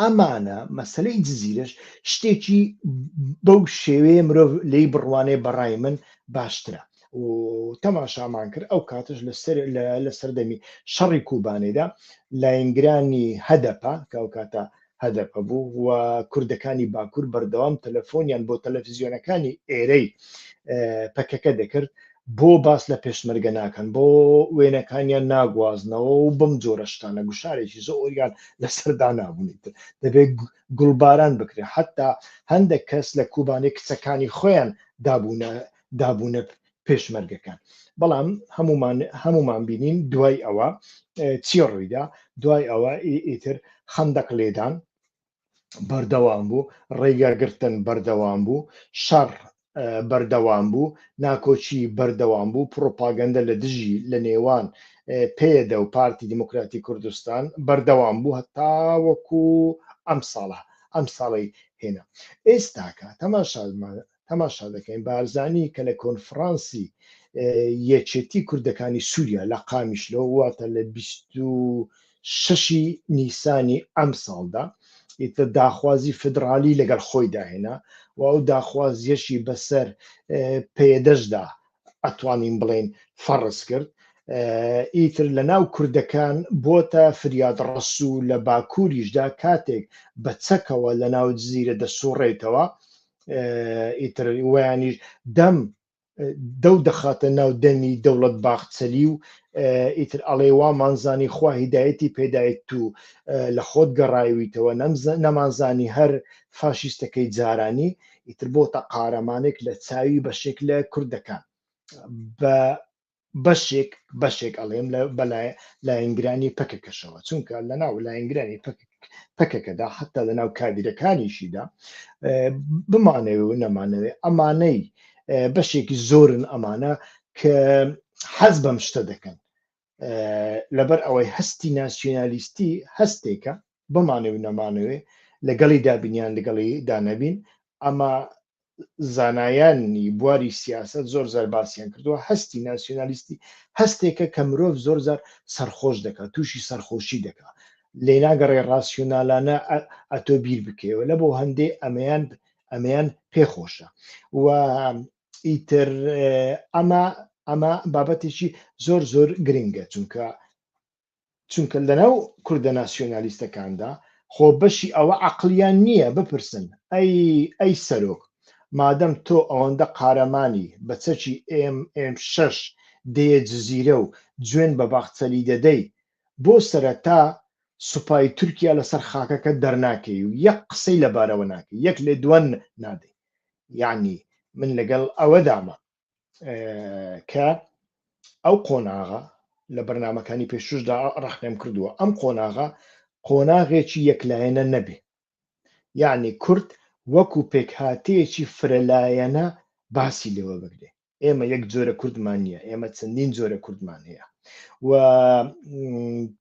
ئەمانە مەسەلەی جزیرەش شتێکی بەو شێوەیە مرۆڤ لی بڕوانێ بەڕای من باشترە تەماشامان کرد ئەو کاتش لە سەردەمی شەڕی کوبانێدا لاینگرانی هەدەپە کە ئەو کاتە هەدەپە بوو و کوردەکانی باکوور بەردەوام تەلەفۆنیان بۆ تەلەفزیۆنەکانی ئێرەی پەکەکە دەکرد بۆ باس لە پێشمەرگە ناکەن بۆ وێنەکانیان ناگوازنەوە و بەم جۆرە شتانە گوشارێکی زۆریان لەسەر دانابوونی تر دەبێت گوڵباران بکرێت حتا هەندێک کەس لە کوبانی کچەکانی خۆیان دابوونە دابوونە پێشمەرگەکان بەڵام هەمومان هەمومان بینین دوای ئەوە چی ڕوویدا دوای ئەوە ئیتر خەندەق لێدان بەردەوام بوو ڕێگاگرتن بەردەوام بوو شەڕ بەردەوام بوو ناکۆچی بەردەوام بوو پرۆپاگەندە لە دژی لە نێوان پێدە و پارتی دیموکراتی کوردستان بەردەوام بوو هەتاوەکو ئەم ساڵە ئەم ساڵی هێنا ئێستاکە تەماشامان تەماشا دەکەین بارزانی کە لە کۆنفرانسی یەکێتی کوردەکانی سووریا لە قامیشلۆ واتە لە شەشی نیسانی ئەم ساڵدا ئیتە داخوازی فدرالی لەگەڵ خۆی داهێنا و ئەو داخوازیەشی بەسەر پێدەشدا ئەتوانین بڵێن فەڕز کرد ئیتر لە ناو کوردەکان بۆتە فریاد ڕسوو لە باکووریشدا کاتێک بە چەکەوە لە ناو جززیرە دەسوڕێتەوە ئیتر ویانیش دەم دەو دەخاتە ناو دەمی دەوڵەت باخچەلی و ئیتر ئەڵێ وامانزانی خوا هیدایەتی پێدایت تو لە خۆت گەڕایویتەوە نەمانزانی هەر فاشیستەکەی جارانی ئیتر بۆتە قارەمانێک لە چاوی بەشێک لە کوردەکان بە بەشێک بەشێک ئەڵێم لە بەلای لایەنگرانی پەکەکەشەوە چونکە لە ناو لایەنگرانی پەکەکەدا حتا لە ناو کادیرەکانیشیدا بمانەوێ و نەمانەوێ ئەمانەی بەشێکی زۆرن ئەمانە کە حەز بەم شتە دەکەن لەبەر ئەوەی هەستی ناسیۆنالیستی هەستێکە بمانەوێ و نەمانەوێ لەگەڵی دابین یان لەگەڵی دانەبین ئەمە زانایانی بواری سیاست زۆر زار باسییان کردووە هەستی ناسیۆنالیستی هەستێکە کە مرۆڤ زۆر زار سەرخۆش دەکات تووشی سەرخۆشی دەکات لێ ناگەڕێ ڕاسیۆنالانە ئەتۆ بیر بکەوە لە بۆ هەندێ ئەمەیان ئەمەیان پێخۆشە و ئیتر ئەمە ئەمە بابەتێکی زۆر زۆر گرنگە چونکە چونکە لەناو کوردە ناسیۆنالیستەکاندا خۆ بەشی ئەوە عقلیان نییە بپرسن ئەی ئەی سەرۆک مادەم تۆ ئەوەندە قارەمانی بە چەکی ئێم ئێم شەش دەیە جزیرە و جوێن بە باخچەلی دەدەی بۆ سەرەتا سوپای تورکیا لەسەر خاکەکە دەرناکەی و یەک قسەی لەبارەوە ناکەی یەک لێدوان نادەی یعنی من لەگەڵ ئەوەدامە کە ئەو قۆناغە لە بەرنمەکانی پێشوشدا ڕحنێم کردووە ئەم قۆناغا قۆناغێکی یەکلایەنە نەبێ یعنی کورد وەکو پێکهاتەیەکی فرەلایەنە باسی لێوە بگرێ ئێمە یەک جۆرە کوردمان نییە ئێمە چەندین جۆرە کوردمان هەیە و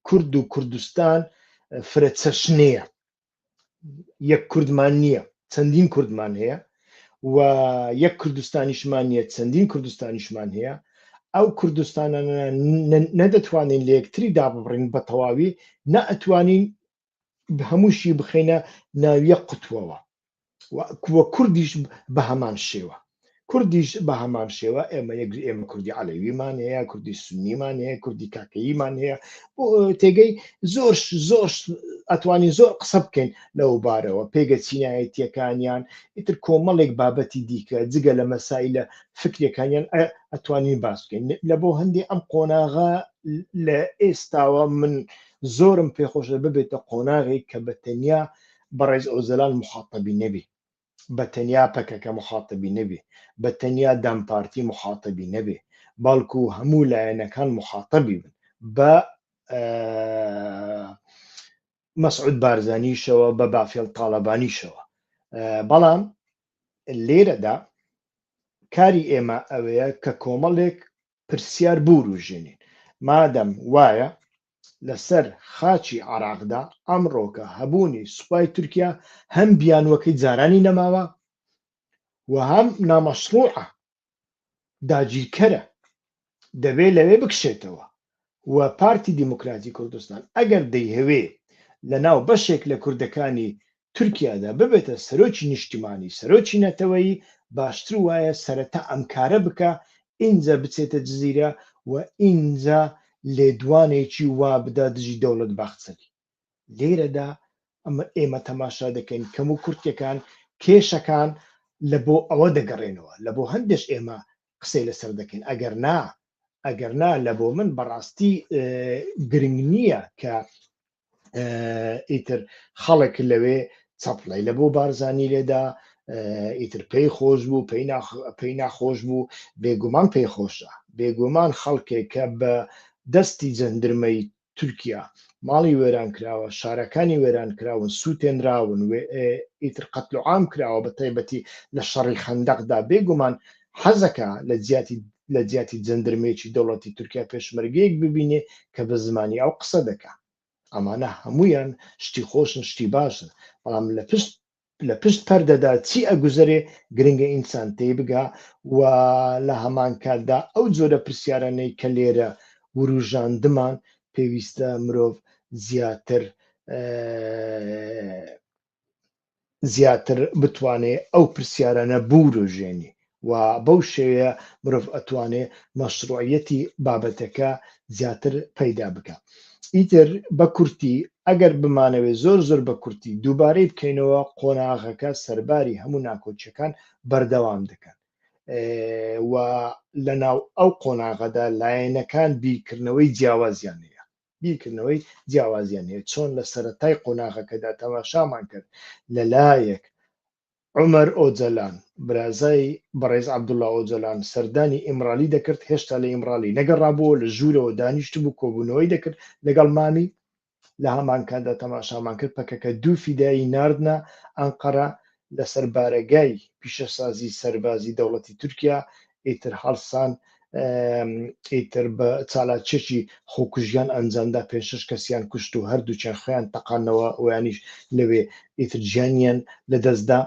کورد و کوردستان فرە چەشنەیە یەک کوردمان نییە چەندین کوردمان هەیە و یەک کوردستانیشمان نیە چەندین کوردستانیشمان هەیە ئەو کوردستانە نەدەتوانین لە یەکتری دابڕین بە تەواوی نە ئەتوانین هەمووشی بخینە ناویە قوتوەوە کوردیش بە هەمان شێوە کوردیش بە هەمان شێوە ئێمە یەک ئێمە کوردی عەلەویمان هەیە کوردی سنیمان هەیە کوردی کاکەیمان هەیە تێگەی زۆر زۆر ئەتوانی زۆر قسە بکەین لەو بارەوە پێگە چینایەتیەکانیان ئیتر کۆمەڵێک بابەتی دیکە جگە لە مەسای لە فکرەکانیان ئەتوانین باس بکەین لە بۆ هەندی ئەم قۆناغا لە ئێستاوە من زۆرم پێخۆشە ببێتە قۆناغی کە بە تەنیا بەڕێز ئۆجەلان موخاتەبی نەبی بە تەنیا پەکەکە موخاتەبی نەبی بە تەنیا دەم پارتی موخاتەبی نەبی بەڵکو هەموو لایەنەکان موخاتەبی بن بە مەسعود بارزانیشەوە بە بافێڵ تاالبانیشەوە بەڵام لێرەدا کاری ئێمە ئەوەیە کە کۆمەڵێک پرسیار بوروژێنین مادەم وایە لەسەر خاچی عێراقدا ئەمڕۆکە هەبوونی سوپای تورکیا هەم بیانوەکەی جارانی نەماوە و هەم نامەشروعە داگیرکەرە دەبێ لەوێ بکشێتەوە و پارتی دیموکراتی کوردستان ئەگەر دەیهەوێ لە ناو بەشێک لە کوردەکانی تورکیادا ببێتە سەرۆکی نیشتیمانی سەرۆکی نەتەوەیی باشتر وایە سەرەتا ئەم کارە بکا ئینجا بچێتە جزیرە و ئینجا لێدوانێکی وا بدا دژی دەوڵەت باخچەلی لێرەدا ئێمە تەماشا دەکەین کەم و کورتیەکان کێشەکان لە بۆ ئەوە دەگەڕێنەوە لە بۆ هەندێش ئێمە قسەی لەسەر دەکەین ئەگەر نا ئەگەر نا لە بۆ من بەڕاستی گرنگ نییە کە ئیتر خەڵک لەوێ چەپڵی لە بۆ بارزانانی لێدا ئیتر پێی خۆش بوو پێی ناخۆش بوو بێگومان پێی خۆشە بێگومان خەڵکێک کە بە دەستی جەندرمەی تورکیا ماڵی وێران کراوە شارەکانی وێران کراون سووتێنراون ئیتر قەتلوعام کراوە بە تایبەتی لە شەڕی خەندەقدا بێگومان حەزەکا لە جیاتی لە جیاتی جەندرمێکی دەوڵەتی تورکیا پێشمەرگەیەک ببینێ کە بە زمانی ئەو قسە دەکا ئەمانە هەمویان شتی خۆشن شتی باشن بەڵام لە پشت لە پشت پەردەدا چی ئەگوزەرێ گرنگە ئینسان تێی بگا و لە هەمان کاتدا ئەو جۆرە پرسیارانەی کە لێرە وروژاندمان پێویستە مرۆڤ زیاتر زیاتر بتوانێ ئەو پرسیارانە بوروژێنێ و بەو شێوەیە مرۆڤ ئەتوانێ مەشروعیەتی بابەتەکە زیاتر پەیدا بکە ئیتر بە کورتی ئەگەر بمانەوێ زۆر زۆر بە کورتی دووبارەی بکەینەوە قۆناغەکە سەرباری هەموو ناکۆچیەکان بەردەوام دەکەن و لە ناو ئەو قۆناغەدا لایەنەکان بیرکردنەوەی جیاوازیان هەیە بیرکردنەوەی جیاوازیان هەیە چۆن لە سەرەتای قۆناغەکەدا تەماشامان کرد لەلایەک عمر ئۆجەلان برازای بەڕێز عبدوڵا ئۆجەلان سەردانی ئیمرالی دەکرد هێشتا لە ئیمرالی نەگەڕابووە لە ژوورەوە دانیشت بوو کۆبوونەوەی دەکرد لەگەڵ مامی لە هەمانکاتدا تەماشامان کرد پەکەکە دوو فیدایی ناردە ئەنقەرە لەسەر بارەگای پیشەسازی سەربازی دەوڵەتی تورکیا ئیتر هەڵسان ئیتر بە چالاچێکی خۆکوژیان ئەنجامدا پێ شش کەسیان کوشت و هەردووچیان خۆیان تەقانەوە ئەویانیش لەوێ ئیتر گیانیان لەدەستدا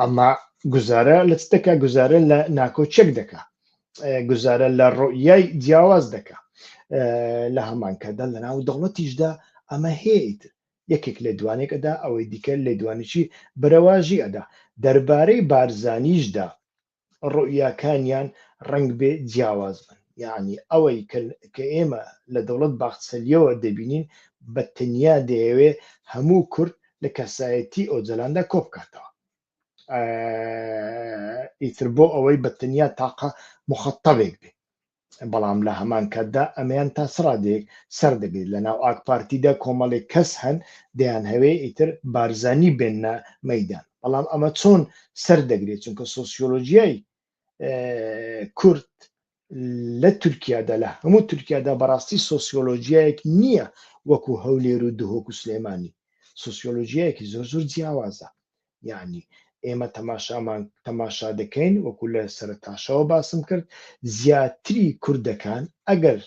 ئەما گوزارە لە چ دەکا گوزارە لە ناکۆچێک دەکا گوزارە لە ڕۆیای جیاواز دەکا لە هەمانکەدا لە ناو دەوڵەتیشدا ئەمە هەیەیت یەکێک لێدوانێک ئەدا ئەوەی دیکە لێدوانێکی برەواژی ئەدا دەربارەی بارزانیشدا ڕوئیاکانیان ڕەنگبێ جیاواز بن یاعنی ئەوەی کە ئێمە لە دەوڵەت باخچەلیەوە دەبینین بە تەنیا دەیەوێ هەموو کورد لە کەسایەتی ئۆجەلاندا کۆبکاتەوە ئیتر بۆ ئەوەی بە تەنیا تاقە مخەتەبێک بێ بەڵام لە هەمان کاتدا ئەمەیان تا چ ڕادەیەک سەر دەگرێت لە ناو ئاک پارتیدا کۆمەڵێک کەس هەن دەیان هەوێ ئیتر بارزانی بێنە مەیدان بەڵام ئەمە چۆن سەر دەگرێت چونکە سۆسیۆلۆژیای کورد لە تورکیادا لە هەموو تورکیادا بەڕاستی سۆسیۆلۆژیایەک نییە وەکو هەولێر و دهۆک و سلێمانی سوسیۆلۆژیایەکی زۆر زۆر جیاوازە یانی ئێمە تەماشامان تەماشا دەکەین وەکو لە سەرتاشەوە باسم کرد زیاتری کوردەکان ئەگەر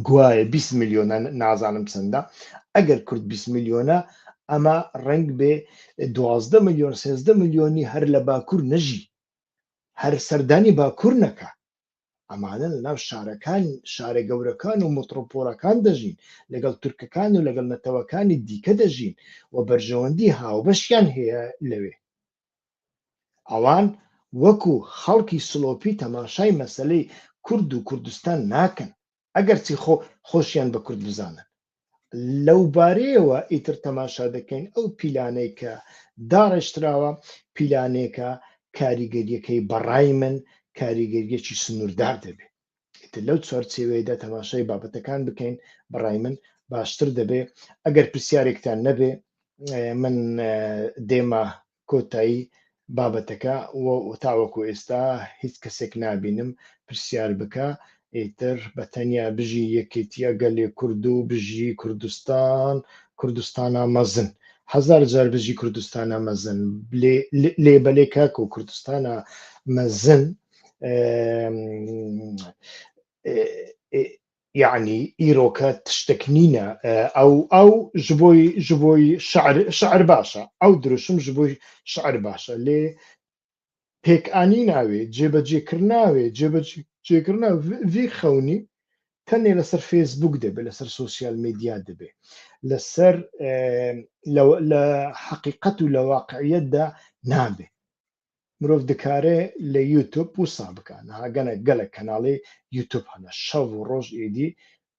گوایە 20 میلیۆنە نازانم چەندە ئەگەر کورد 20 میلیۆنە ئەمە ڕنگ بێ دوازدە میلیۆن سێزدە میلیۆنی هەر لە باکوور نەژی هەر سەردانی باکوور نەکە ئەمانە لە ناو شارەکان شارە گەورەکان و متڕۆپۆڵەکان دەژین لەگەڵ تورکەکان و لەگەڵ نەتەوەکانی دیکە دەژین و بەرژەوەندی هاوبەشیان هەیە لەوێ ئەوان وەکو خەڵکی سلۆپی تەماشای مەسەلەی کورد و کوردستان ناکەن ئەگەرچی خۆ خۆشیان بە کورد بزانن لەو بارەیەوە ئیتر تەماشا دەکەین ئەو پیلانەی کە داڕێژتراوە پیلانێکە کاریگەریەکەی بەڕای من کاریگەریەکی سنووردار دەبێت ئیتر لەو چوارچێوەیەدا تەماشای بابەتەکان بکەین بەڕای من باشتر دەبێت ئەگەر پرسیارێکتان نەبێ من دێمە کۆتایی بابەتەکە و تاوەکو ئێستا هیچ کەسێک نابینم پرسیار بکا ئیتر بە تەنیا بژی یەکێتیە گەلێ کورد و بژی کوردستان کوردستانا مەزن هەزار جار بژی کوردستانا مەزن لێ بەلێ کاک و کوردستانا مەزن یەعنی ئیرۆکە تشتەک نینە ئەو ئەو ژ بۆی ژ بۆی شعر شعر باشە ئەو دروشم ژ بۆی شعر باشە لێ پێک ئانی ناوێ جێبەجێ کرد ناوێ جێبەجێ جێگرنا وی خەونی تەنێ لەسەر فێسبوک دەبێت لەسەر سوسیال میدیا دەبێت لەسەر لە حقیقەت و لە واقعیتدا نابێت مرۆڤ دکارێ لە یوتوب وسا بکا ناگەنە گەلە کەناڵی یوتوب هەنە شەڤ و ڕۆژ ئیدی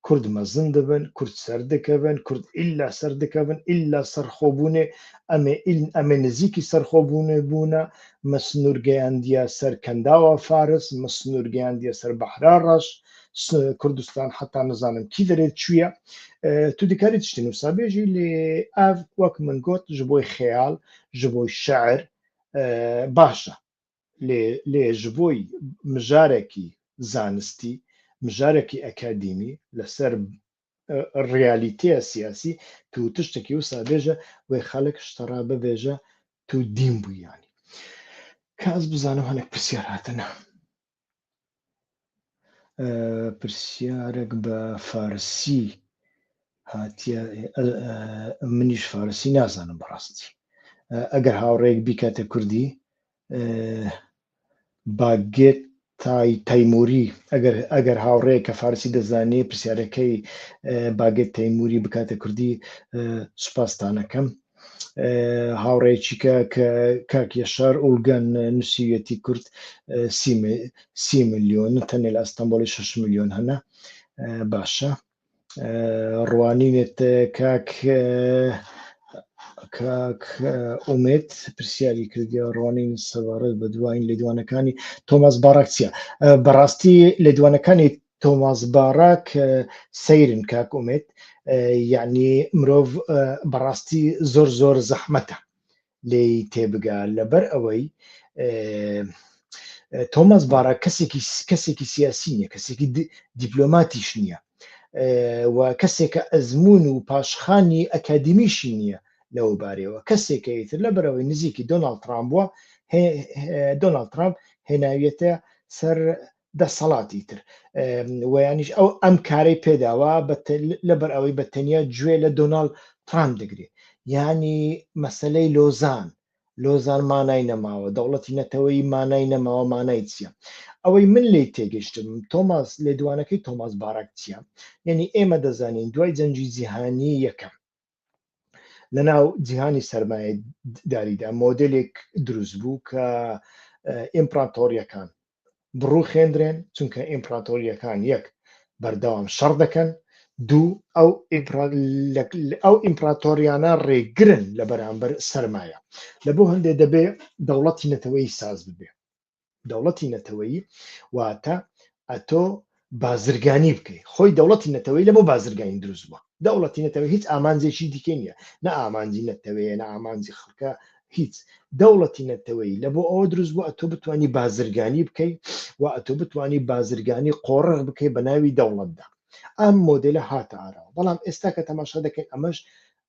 کورد مەزن دبن کورد سەر دکەڤن کورد ئیلا سەر دکەڤن ئیلا سەرخۆ بوونێ ئەمێ ئیلن ئەمێ نزیکی سەرخۆ بوونێ بوونە مە سنوور گەیاندیە سەر کەنداوە فارس مە سنوور گەیاندیە سەر بەحرا ڕەش کوردستان حتا نزانم کی دەێت چویە تو دیکاری تشتی نووسابێژی لێ ئاڤ وەک من گۆت ji بۆی خەیاڵ ji بۆی شعر باشە لێ ژ بۆی مژارێکی زانستی مژارێکی ئەکادیمی لەسەر ڕیالیتەیە سیاسی تو تشتێکی و سابێژە وی خەڵک شتەڕا ببێژە تو دیم بوویانی کاس بزانم هەنێک پرسیار هاتنە پرسیارەک بە فارسی هاتیە منیش فارسی نازانم بەڕاستی ئەگەر هاوڕێک بیکاتە کوردی باگێت تای تەیموری ئەگەر ئەگەر هاوڕەیە کە فارسی دەزانێ پرسیارەکەی باگێت تەیموری بکاتە کوردی سوپاستانەکەم هاوڕێکیکە کە کاک یەشار ئوڵگەن نووسیویەتی کورد سی میلیۆن تەنێ لە ئەستەمبۆڵی 6 میلیۆن هەنە باشە ڕوانینێت کاک کاک ئومێت پرسیاری کردیا ڕوانین سەبارەت بە دوایین لێدوانەکانی تۆماس باراکسیا بەڕاستی لێدوانەکانی تۆماس باراک سەیرن کاک ئومێد یعنی مرۆڤ بەڕاستی زۆر زۆر زەحمەتە لێ تێبگا لەبەر ئەوەی تۆماس بارا کەسێکی کەسێکی سیاسی نیە کەسێکی دیپلۆماتیش نییە و کەسێکە ئەزمون و پاشخانی ئەکادمیشی نییە لەو بارەوە کەسێکە ئیتر لە بەرەوەی نزیکی دۆناالد ترامپ بووە دۆناالد ترامپ هێناویەتە سەر دەسەڵاتی تر ویانیش ئەو ئەم کارەی پێداوە لەبەر ئەوەی بە تەنیا گوێ لە دۆناڵ ترام دەگرێت ینی مەسلەی لۆزان لۆزان مانای نەماوە دەوڵەتی نەتەوەی مانای نەماوە مانای چییە ئەوەی من لی تێگەشتم تۆماس لێدوانەکەی تۆماس باراک چییە یعنی ئێمە دەزانین دوای جەنجی جیهانی یەکەم لە ناو جیهانی سەرمایە داریدا مۆدلێک دروست بوو کە ئیمپراتۆریەکان بڕوخێندرێن چونکە ئیمپراتۆریەکان یەک بەردەوام شەڕ دەکەن دوو ئەو ئەو ئیمپراتۆریانە ڕێگرن لە بەرامبەر سەرمایە لە بۆ هەندێ دەبێ دەوڵەتی نەتەوەی ساز ببێ دەوڵەتی نەتەوەیی واتە ئەتۆ بازرگانی بکەیت خۆی دەوڵەتی نەتەوەی لەمە بازرگانی دروست بووە دەوڵەتی نەتەوە هیچ ئامانجێکی دیکە نییە نە ئامانجی نەتەوەیە نە ئامانجی خەڵکە هیچ دەوڵەتی نەتەوەی لە بۆ ئەوە دروست بوو ئەتۆ بتانی بازرگانی بکەیت و ئەتۆ بتانی بازرگانی قۆڕغ بکەیت بە ناوی دەوڵەتدا ئەم مۆدلە هاتە ئاراوە بەڵام ئێستا کە تەماشا دەکەین ئەمەش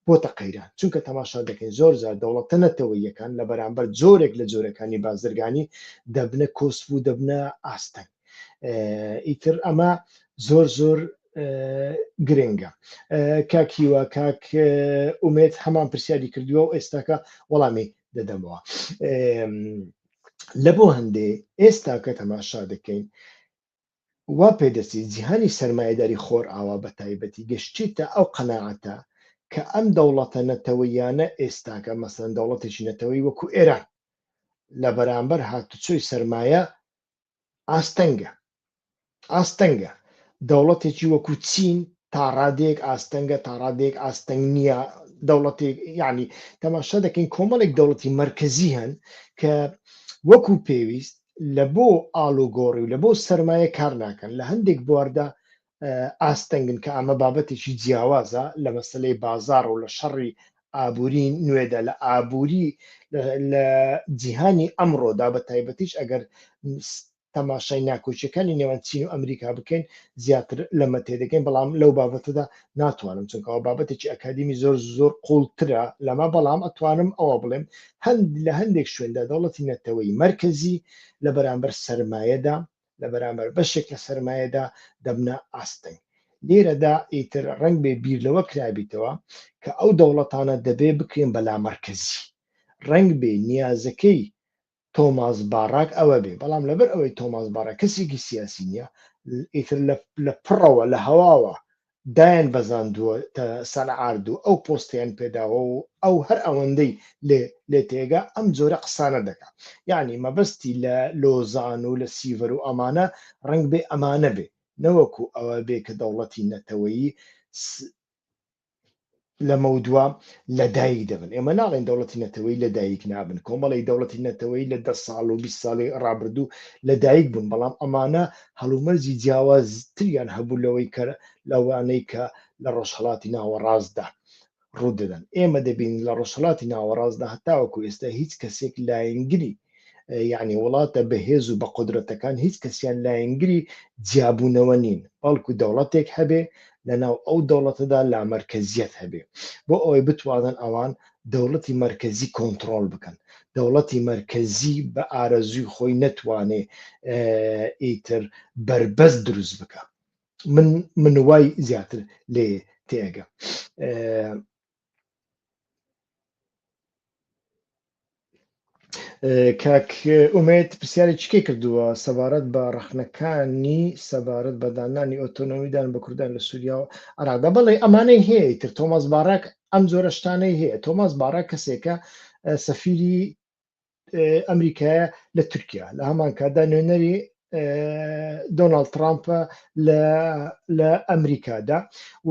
بۆتە قەیران، چونکە تەماشا دەکەین زۆر جار دەوڵەتە نەتەوەییەکان لە بەرامبەر جۆرێک لە جۆرەکانی بازرگانی دەبنە کۆسپ و دەبنە ئاستەنگ. ئیتر ئەمە زۆر زۆر گرنگە. کاک هیوا کاک ئومێد هەمان پرسیاری کردووە و ئێستاکە وەڵامی دەدەمەوە. لە بۆ هەندێ ئێستاکە تەماشا دەکەین وا پێ دەچی جیهانی سەرمایەداری خۆرئاوا بە تایبەتی گەشتیتە ئەو قەناعەتە کە ئەم دەوڵەتە نەتەوەییانە ئێستاکە مەسەلەن دەوڵەتێکی نەتەوەیی وەکوو ئێران لە بەرامبەر هاتوچۆی سەرمایە ئاستەنگە ئاستەنگە دەوڵەتێکی وەکوو چین تا ڕادێک ئاستەنگە تا ڕادێک ئاستەنگ نییە دەوڵەتێک یعنی تەماشا دەکەین کۆمەڵێک دەوڵەتی مرکزی هەن کە وەکو پێویست لە بۆ ئالوگۆڕی و لە بۆ سەرمایە کار ناکەن لە هەندێک بواردا ئاستەنگن کە ئەمە بابەتێکی جیاوازە لە مەسلەی بازار و لە شەڕی ئابووری نوێدا لە ئابووری لە جیهانی ئەمڕۆدا بە تایبەتیش ئەگەر تەماشای ناکۆچیەکانی نێوان چین و ئەمریکا بکەین زیاتر لەمە تێدەگەین بەڵام لەو بابەتەدا ناتوانم چونکە ئەوە بابەتێکی ئەکادیمی زۆر زۆر قوڵترە لەمە بەڵام ئەتوانم ئەوە بڵێم هەند لە هەندێک شوێندا دەوڵەتی نەتەوەی مرکزی لە بەرامبەر سرمایەدا لە بەرامبەر بەشێک لە سرمایەدا دەبنە ئاستنگ لێرەدا ئیتر ڕنگ بێ بیر لەوە کرابیتەوە کە ئەو دەوڵەتانە دەبێ بکرێن بەلا مرکزی ڕنگ بێ نیازەکەی تۆماس باراک ئەوە بێ بەڵام لەبەر ئەوەی تۆماس باراک کەسێکی سیاسی نییە ئیتر لە پڕەوە لە هەواوە دایان بەزاندووە سەنعارد و ئەو پۆستیان پێداوە و ئەو هەر ئەوەندەی لێ لێ تێگا ئەم جۆرە قسانە دەکا یعنی مەبەستی لە لۆزان و لە سیڤەر و ئەمانە ڕنگ بێ ئەمانە بێ نەوەکو ئەوە بێ کە دەوڵەتی نەتەوەیی لەمەودوا لەدایک دەبن ئێمە ناڵێن دەوڵەتی نەتەوەی لەدایک نابن کۆمەڵی دەوڵەتی نەتەوەی لە دە ساڵ و 20 ساڵی ڕابردوو لەدایک بوون بەڵام ئەمانە هەڵومەرجی جیاوازتریان هەبوو لەوەی کە لەوانەی کە لە ڕۆژهڵاتی ناوەڕاستدا ڕوودەدەن ئێمە دەبین لە ڕۆژهڵاتی ناوەڕاستدا هەتاوەکو ئێستا هیچ کەسێک لایەنگری یعنی وڵاتە بەهێز و بە قدرەتەکان هیچ کەسیان لایەنگری جیابوونەوە نین بەڵکو دەوڵەتێک هەبێ لەناو ئەو دەوڵەتەدا لامەرکەزیەت هەبێ بۆ ئەوەی بتوانن ئەوان دەوڵەتی مرکزی کۆنتترۆل بکەن دەوڵەتی مرکزی بە ئارەزوی خۆی نەتوانێ ئیتر بربەس دروست بکە من من وای زیاتر لێ تێگە کاک ئومێد پرسیاری چکەی کردووە سەبارەت بە ڕخنەکانی سەبارەت بە دانانی ئۆتۆنۆمیدان بە کوردان لە سووریا و عرادا بەڵێ ئەمانەی هەیە تر تۆماس باراک ئەم جۆرەشتانەی هەیە تۆماس باراک کەسێکە سەفیری ئەمریکایە لە تورکیا لە هەمان کاتدا نوێنەری دۆناالد ترامپە لە ئەمریکادا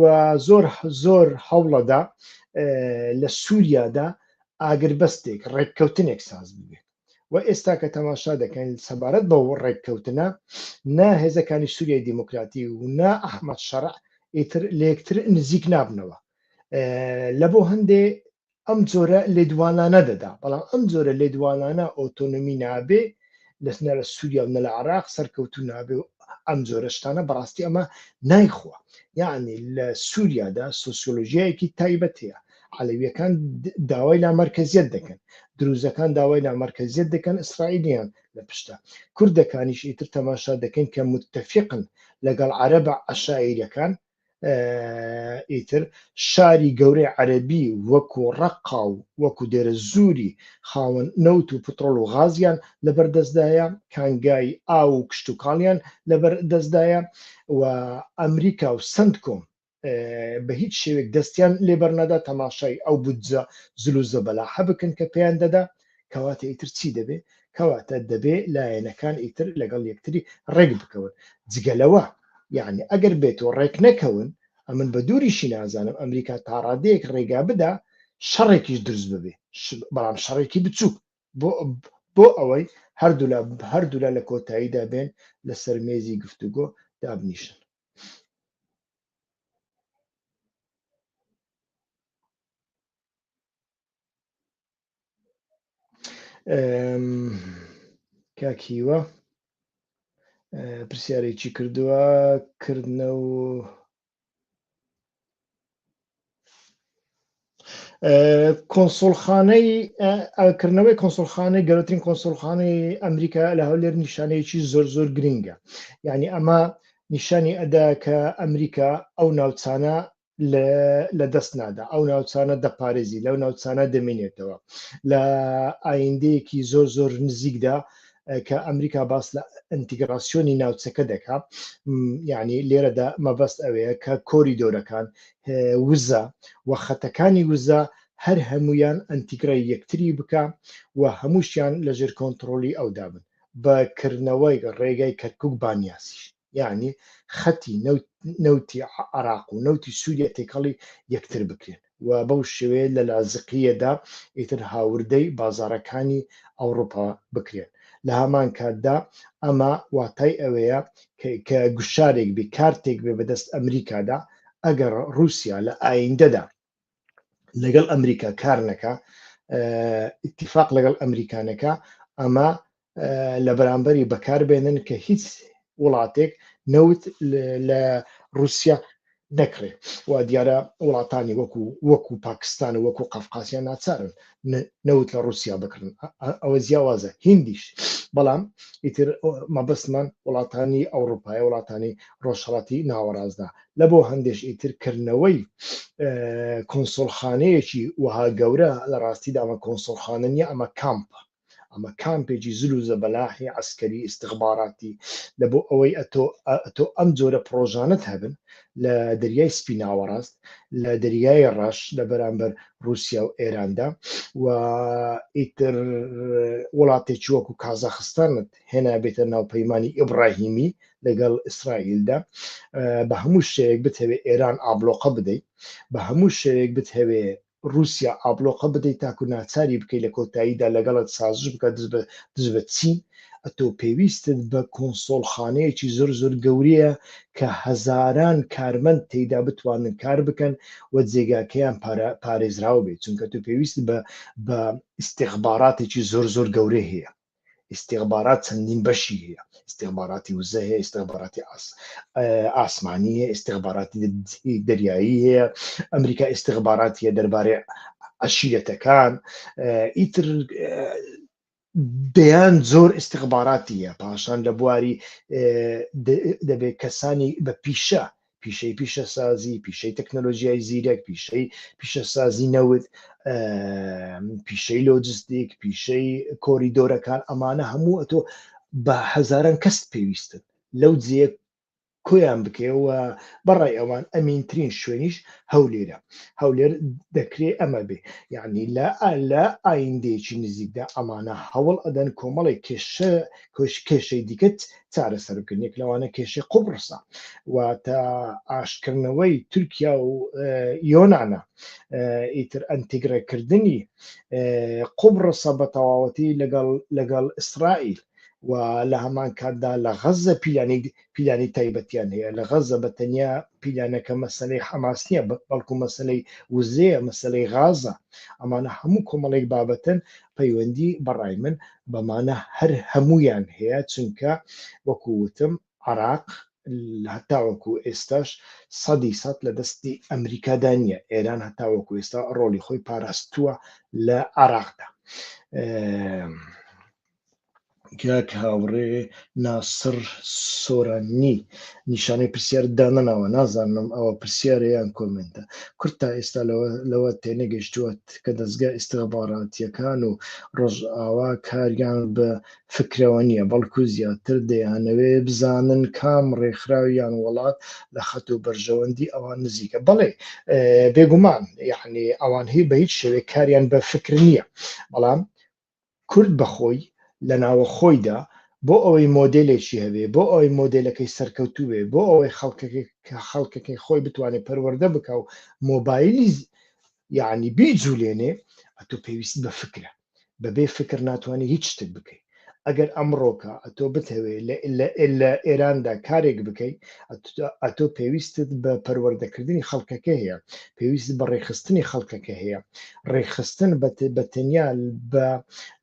و زۆر زۆر هەوڵەدا لە سووریادا ئاگربەستێک ڕێککەوتنێک ساز ببێت و ئێستا کە تەماشا دەکەن سەبارەت بە ڕێککەوتنە نا هێزەکانی سووریای دیموکراتی و نا ئەحمد شەرع ئیتر لەکتر نزیک نابنەوە لە بۆ هەندێ ئەم جۆرە لێدوانانە دەدا، بەڵام ئەم جۆرە لێدوانانە ئۆتۆنۆمی نابێ لە نە لە سووریا و نە لە عێراق سەرکەوتوو نابێ و ئەم جۆرە شتانە بەڕاستی ئەمە نایخوا، یەعنی لە سووریادا سۆسیۆلۆژیایەکی تایبەت هەیە، عەلەوییەکان داوای لامەرکەزییەت دەکەن، دروزەکان داوای لامەرکەزییەت دەکەن ئیسرائیلیان لە پشتە، کوردەکانیش ئیتر تەماشا دەکەین کە متتەفیقن لەگەڵ عەرەبە عەشایرییەکان، ئیتر شاری گەورەی عەربی وەکو ڕقا و وەکو دێرە زووری خاوەن نەوت و پترۆل و غازیان لەبەر دەستدایە کانگای ئا و کشتتوکاڵیان لەبەر دەستدایە و ئەمریکا و سند کۆم بە هیچ شێوێک دەستیان لێبەرنەدا تەماشای ئەو بودجە زل و زەبەلاحە بکەن کە پێیان دەدا کەواتە ئیتر چی دەبێ کەواتە دەبێ لایەنەکان ئیتر لەگەڵ یەکتری ڕێک بکەون جگەلەوە یعنی ئەگەر بێت و ڕێک نەکەون ئەمن بە دووریشی نازانم ئەمریکا تاڕادەیەک ڕێگا بدا شەڕێکیش دروست ببێ بەڵام شەڕێکی بچووک بۆ بۆ ئەوەی هەردوولا هەردوولا لە کۆتاییدا بێن لەسەر مێزی گفتوگۆ دابنیشن کاکیوە پرسیارێکی کردووە کردنە و کۆنسڵخانەی کردنەوەی کۆنسڵخانەی گەورەترین کۆنسڵخانەی ئەمریکا لە هەولێر نیشانەیەکی زۆر زۆر گرنگە یعنی ئەمە نیشانی ئەدا کە ئەمریکا ئەو ناوچانە لە دەست نادا ئەو ناوچانە دەپارێزی لەو ناوچانە دەمێنێتەوە لە ئایندەیەکی زۆر زۆر نزیکدا کە ئەمریکا باس لە ئەتیگراسیۆنی ناوچەکە دەکا یعنی لێرەدا مەبەست ئەوەیە کە کۆریدۆرەکان وزە و خەتەکانی وزە هەر هەمویان ئەتیگرای یەکتری بکە و هەمووشیان لەژێر کۆنتترۆلی ئەودا بن بەکردنەوەی ڕێگای کەرکک بانیاسیش یعنی خەتی نەوتی عراق و نەوتی سووریا تێکەڵی یەکتر بکرێن و بەو شێوەیە لە لازقیەدا ئیتر هاوردەی بازارەکانی ئەوروپا بکرێن لە هەمان کاتدا ئەمە واتای ئەوەیە کە گوشارێک بێ کارتێک بێ بەدەست ئەمریکادا ئەگەر رووسیا لە ئایندەدا لەگەڵ ئەمریکا کار نەکە ئتیفاق لەگەڵ ئەمریکانەکە ئەمە لە بەرامبەری بەکاربێنن کە هیچ وڵاتێک نەوت لە رووسیا نەکرێ و دیارە وڵاتانی وەکو وەکو پاکستان و وەکو قەفقاسیان ناچارن نەوت لە ڕوسیا بکڕن ئەوە جیاوازە هندیش بەڵام ئیتر مەبەستمان وڵاتانی ئەوروپای وڵاتانی ڕۆژهڵاتی ناوەڕاستدا لە بۆ هەندێش ئیتر کردنەوەی کۆنسۆلخانەیەکی وەها گەورە لە ڕاستیدا ئەمە کۆنسۆلخانە نیە ئەمە کامپە ئەمە کامپێکی زل و زەبەلاحی عەسکەری ئیستخباراتی لە بۆ ئەوەی ئەتۆ ئەتۆ ئەم جۆرە پڕۆژانەت هەبن لە دەریای سپی ناوەڕاست لە دەریای ڕەش لە بەرامبەر رووسیا و ئێراندا و ئیتر وڵاتێکی وەکو کازاخستانت هێنا بێتە ناوپەیمانانی ئیبراهیمی لەگەڵ ئیسرائیلدا بە هەموو شەیەک بتەوێت ئێران ئابلۆقە بدەیت بە هەموو شەیەک بتەوێت ڕووسیا ئابڵۆقە بدەی تاکو ناچاری بکەی لە کۆتاییدا لەگەڵت سازش بکات دژ بە دژ بە چین ئەتۆ پێویستت بە کۆنسۆڵخانەیەکی زۆر زۆر گەورەیە کە هەزاران کارمەند تێیدا بتوانن کار بکەن و جێگاکەیان پارا پارێزراو بێت چونکە تۆ پێویستت بە بە ئیستیخباراتێکی زۆر زۆر گەورەی هەیە. ئیستیغبارات چەندین بەشی هەیە ئیستیغباراتی وزە هەیە ئیستیغباراتی ئاسمانی هەیە ئیستیغباراتی دەریایی هەیە ئەمریکا ئیستیغباراتی هەیە دەربارەی عشیرەتەکان ئیتر دەیان زۆر ئیستیغباراتیە پاشان لە بواری دەبێت کەسانی بە پیشە پیشەی پیشەسازی پیشەی تەکنەلۆژیای زیرەک پیشەی پیشەسازی نەوت پیشەی لۆجستیک پیشەی کۆریدۆرەکان ئەمانە هەموو ئەتۆ بە هەزاران کەست پێویستن لەو جێ کۆیان بکەوە بەڕای ئەوان ئەمینترین شوێنیش هەولێرە هەولێر دەکرێ ئەمە بێ یعنی لە لە ئایندێکی نزیکدا ئەمانە هەوڵ ئەدەن کۆمەڵێک کێشە کۆش کێشەی دیکەت چارەسەر بکەن یەک لەوانە کێشەی قوبڕسە و تا ئاشکردنەوەی تورکیا و یۆناە ئیتر ئەنتیگرەکردنی قوبڕسە بە تەواوەتی لەگەڵ لەگەڵ ئیسرائیل و لە هەمان کاتدا لە غەزە پیلانی پیلانی تایبەتیان هەیە لە غەزە بە تەنیا پیلانەکە مەسلەی حەماس نییە بەڵکو مەسلەی وزەیە مەسلەی غازە ئەمانە هەموو کۆمەڵێک بابەتن پەیوەندی بەڕای من بەمانە هەر هەموویان هەیە چونکە وەکو وتم عراق هەتاوەکو ئێستاش سەدی سەد لە دەستی ئەمریکادا نییە ئێران هەتاوەکو ئێستا ڕۆلی خۆی پاراستووە لە عراقدا کاک هاوڕێ ناسڕ سۆرانی نیشانەی پرسیار دانەناوە نازانم ئەوە پرسیارە یان کۆمنتە کورد تا ئێستا لەوە تێنەگەشتووەت کە دەستگا ئستخباراتیەکان و ڕۆژ ئاوا کاریان بە فکرەوە نییە بەڵکو زیاتر دەیانەوێ بزانن کام ڕێکخراویان وڵات لە خەت و بەرژەوەندی ئەوان نزیکە بەڵێ بێگومان یعنی ئەوان هی بە هیچ شوێ کاریان بە فکر نییە بەڵام کورد بە خۆی لە ناوە خۆیدا بۆ ئەوەی مۆدێلێکی هەبێ، بۆ ئەوەی مۆدێلەکەی سەرکەوتوو بێ، بۆ ئەوەی خەڵکەکەی خەڵکەکەی خۆی بتوانێ پەروەردە بکا و مۆبایلی یەعنی بیجولێنێ ئەتۆ پێویست بە فکرە. بە بێ فکر ناتوانێ هیچ شتێک بکەی. ئەگەر ئەمڕۆکە ئەتۆ بتەوێ لە ئێراندا کارێک بکەی ئەتۆ پێویستت بە پەروەردەکردنی خەڵکەکە هەیە، پێویست بە ڕێکخستنی خەڵکەکە هەیە، ڕێکخستن بە تەنیا بە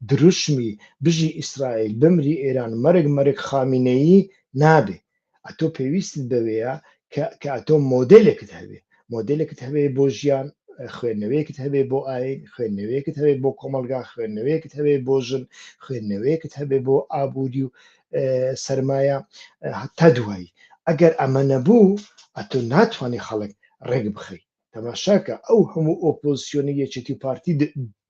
دروشمی بژی ئیسرائیل بمری ئێران مەرگ مەرگ خامینەیی نابێ ئەتۆ پێویست بەوەیە کە ئەتۆ مۆدلێکت هەبێ مۆدلێکت هەبێ بۆ ژیان خوێندنەوەیەکت هەبێ بۆ ئاین خوێندنەوەیەکت هەبێ بۆ کۆمەلگا خوێندنەوەیەکت هەبێ بۆ ژن خوێندنەوەیەکت هەبێ بۆ ئابووری و سرمایە هەتا دوایی ئەگەر ئەمە نەبوو ئەتۆ ناتوانانی خەڵک ڕێک بخەیت تەماشاکە ئەو هەموو ئۆپۆزسیۆنی یەکێتی و پارتی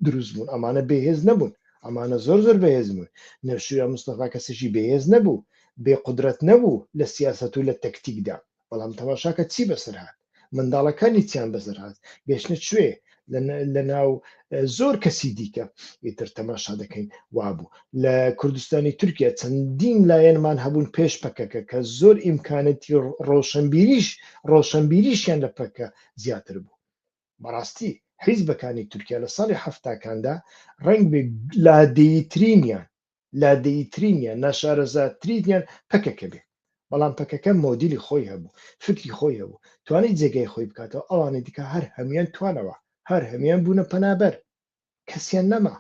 دروست بوون ئەمانە بێهێز نەبوون ئەمانە زۆر زۆر بەهێز بوون نەشویا مستەفا کەسێکی بەهێز نەبوو بێ قدرەت نەبوو لە سیاست و لە تەکتیکدا بەڵام تەماشاکە چی بەسەر هاات منداڵەکانی چیان بەسەر هاات گەشتە کوێ لە ناو زۆر کەسی دیکە ئیتر تەماشا دەکەین وابوو لە کوردستانی تورکیا چەندین لایەنمان هەبوون پێش پەکەکە کە زۆر ئیمکانەتی ڕۆشنبیریش ڕۆشنبیریشیان لە پەکە زیاتر بوو بەڕاستی حیزبەکانی تورکیا لە ساڵی هەفتاکاندا ڕنگ بێ لادێیترینیان لادەییترینیان، ناشارەزاترینیان پەکەکە بێ، بەڵام پەکەکە مۆدیلی خۆی هەبوو، فکری خۆی هەبوو، توانی جێگای خۆی بکاتەوە، ئەوانی دیکە هەر هەموویان توانەوە، هەر هەموویان بوونە پەنابەر، کەسیان نەما.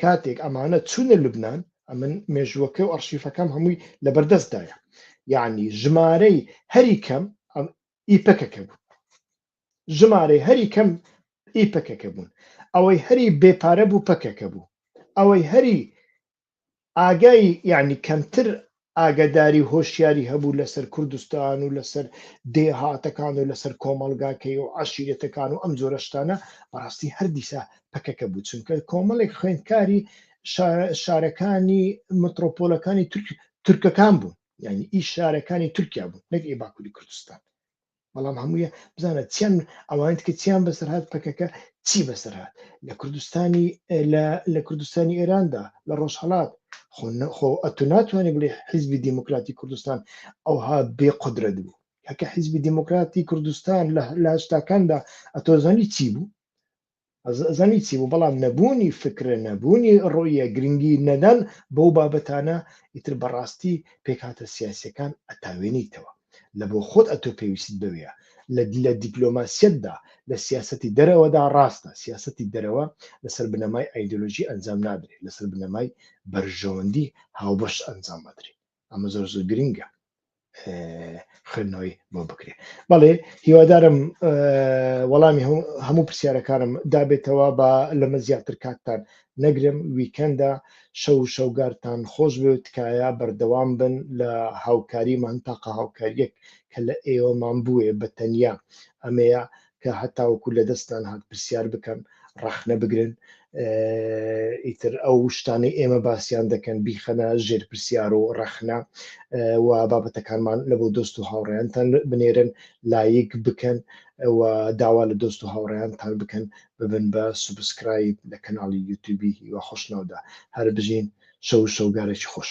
کاتێک ئەمانە چوونە لوبنان، ئەمن مێژووەکە و ئەڕشیفەکەم هەمووی لە بەردەستدایە، یەعنی ژمارەی هەری کەم ی پەکەکە بوون. ژمارەی هەری کەم ئی پەکەکە بوون ئەوەی هەری بێ پارە بوو پەکەکە بوو ئەوەی هەری ئاگای یعنی کەمتر ئاگداری هۆشیاری هەبوو لەسەر کوردستان و لەسەر دێهاتەکان و لەسەر کۆمەلگاکەی و عشیرەتەکان و ئەم جۆرەشتانە بەڕاستی هەردیسا پەکەکە بوو چونکە کۆمەڵێک خوێندکاری شارەکانی مترۆپۆلەکانی تورکەکان بوون یعنی ئی شارەکانی تورکیا بوون نەک ئێ باکووری کوردستان بەڵام هەموویە بزانە چەند ئەوانت کە چیان بەسەر هاات پەکەکە چی بەسەر هاات لە کوردستانی لە کوردستانی ئێراندا لە ڕۆژهڵات خۆ ئەتو ناتوانانی بڵێ حیزبی دیموکراتی کوردستان ئەوها بێ قدرەت بوو هەکە حیزبی دیموکراتی کوردستان لە لاشتاکاندا ئەتۆزانی چی بوو زانی چی بوو بەڵام نەبوونی فکرە نەبوونی ڕۆیە گرنگی نەدان بەو بابەتانە ئیتر بەڕاستی پێکاتە سیاسەکان ئەتاوێنیتەوە لە بۆ خۆت ئەتۆ پێویست بوێە لە لە دیپلۆماسیەتدا لە سیاستی دەرەوەدا ڕاستە سیاستی دەرەوە لەسەر بنەمای ئایدۆلۆژی ئەنجام نادرێت لەسەر بنەمای بەرژەوەندی هاوبەش ئەنجام بدرێت ئەمە زۆر زۆر گرنگە خوێندنەوەی بۆ بکرێت بەڵێ هیوادارم وەڵامی هەموو پرسیارەکانم دابێتەوە بە لەمە زیاتر کاتتان نەگرم ویکەندە شەو شەوگارتان خۆش بێ تکایە بەردەوام بن لە هاوکاریمان تاقە هاوکاریەک کە لە ئێوەمان بووێ بە تەنیا ئەمەیە کە هەتاوەکو لە دەستان هات پرسیار بکەن ڕەخنە بگرن ئیتر ئەو شتانەی ئێمە باسییان دەکەن بیخەنە ژێر پرسیار و ڕەخنە و بابەتەکانمان لە بۆ دۆست و هاوڕێیانتان بنێرن لایک بکەن و داوا لە دۆست و هاوڕێیانتان بکەن ببن بە سوبسکرایب لە کەناڵی یوتوبی هیوە خۆشناودا هەر بژین شەو شەوگارێکی خۆش.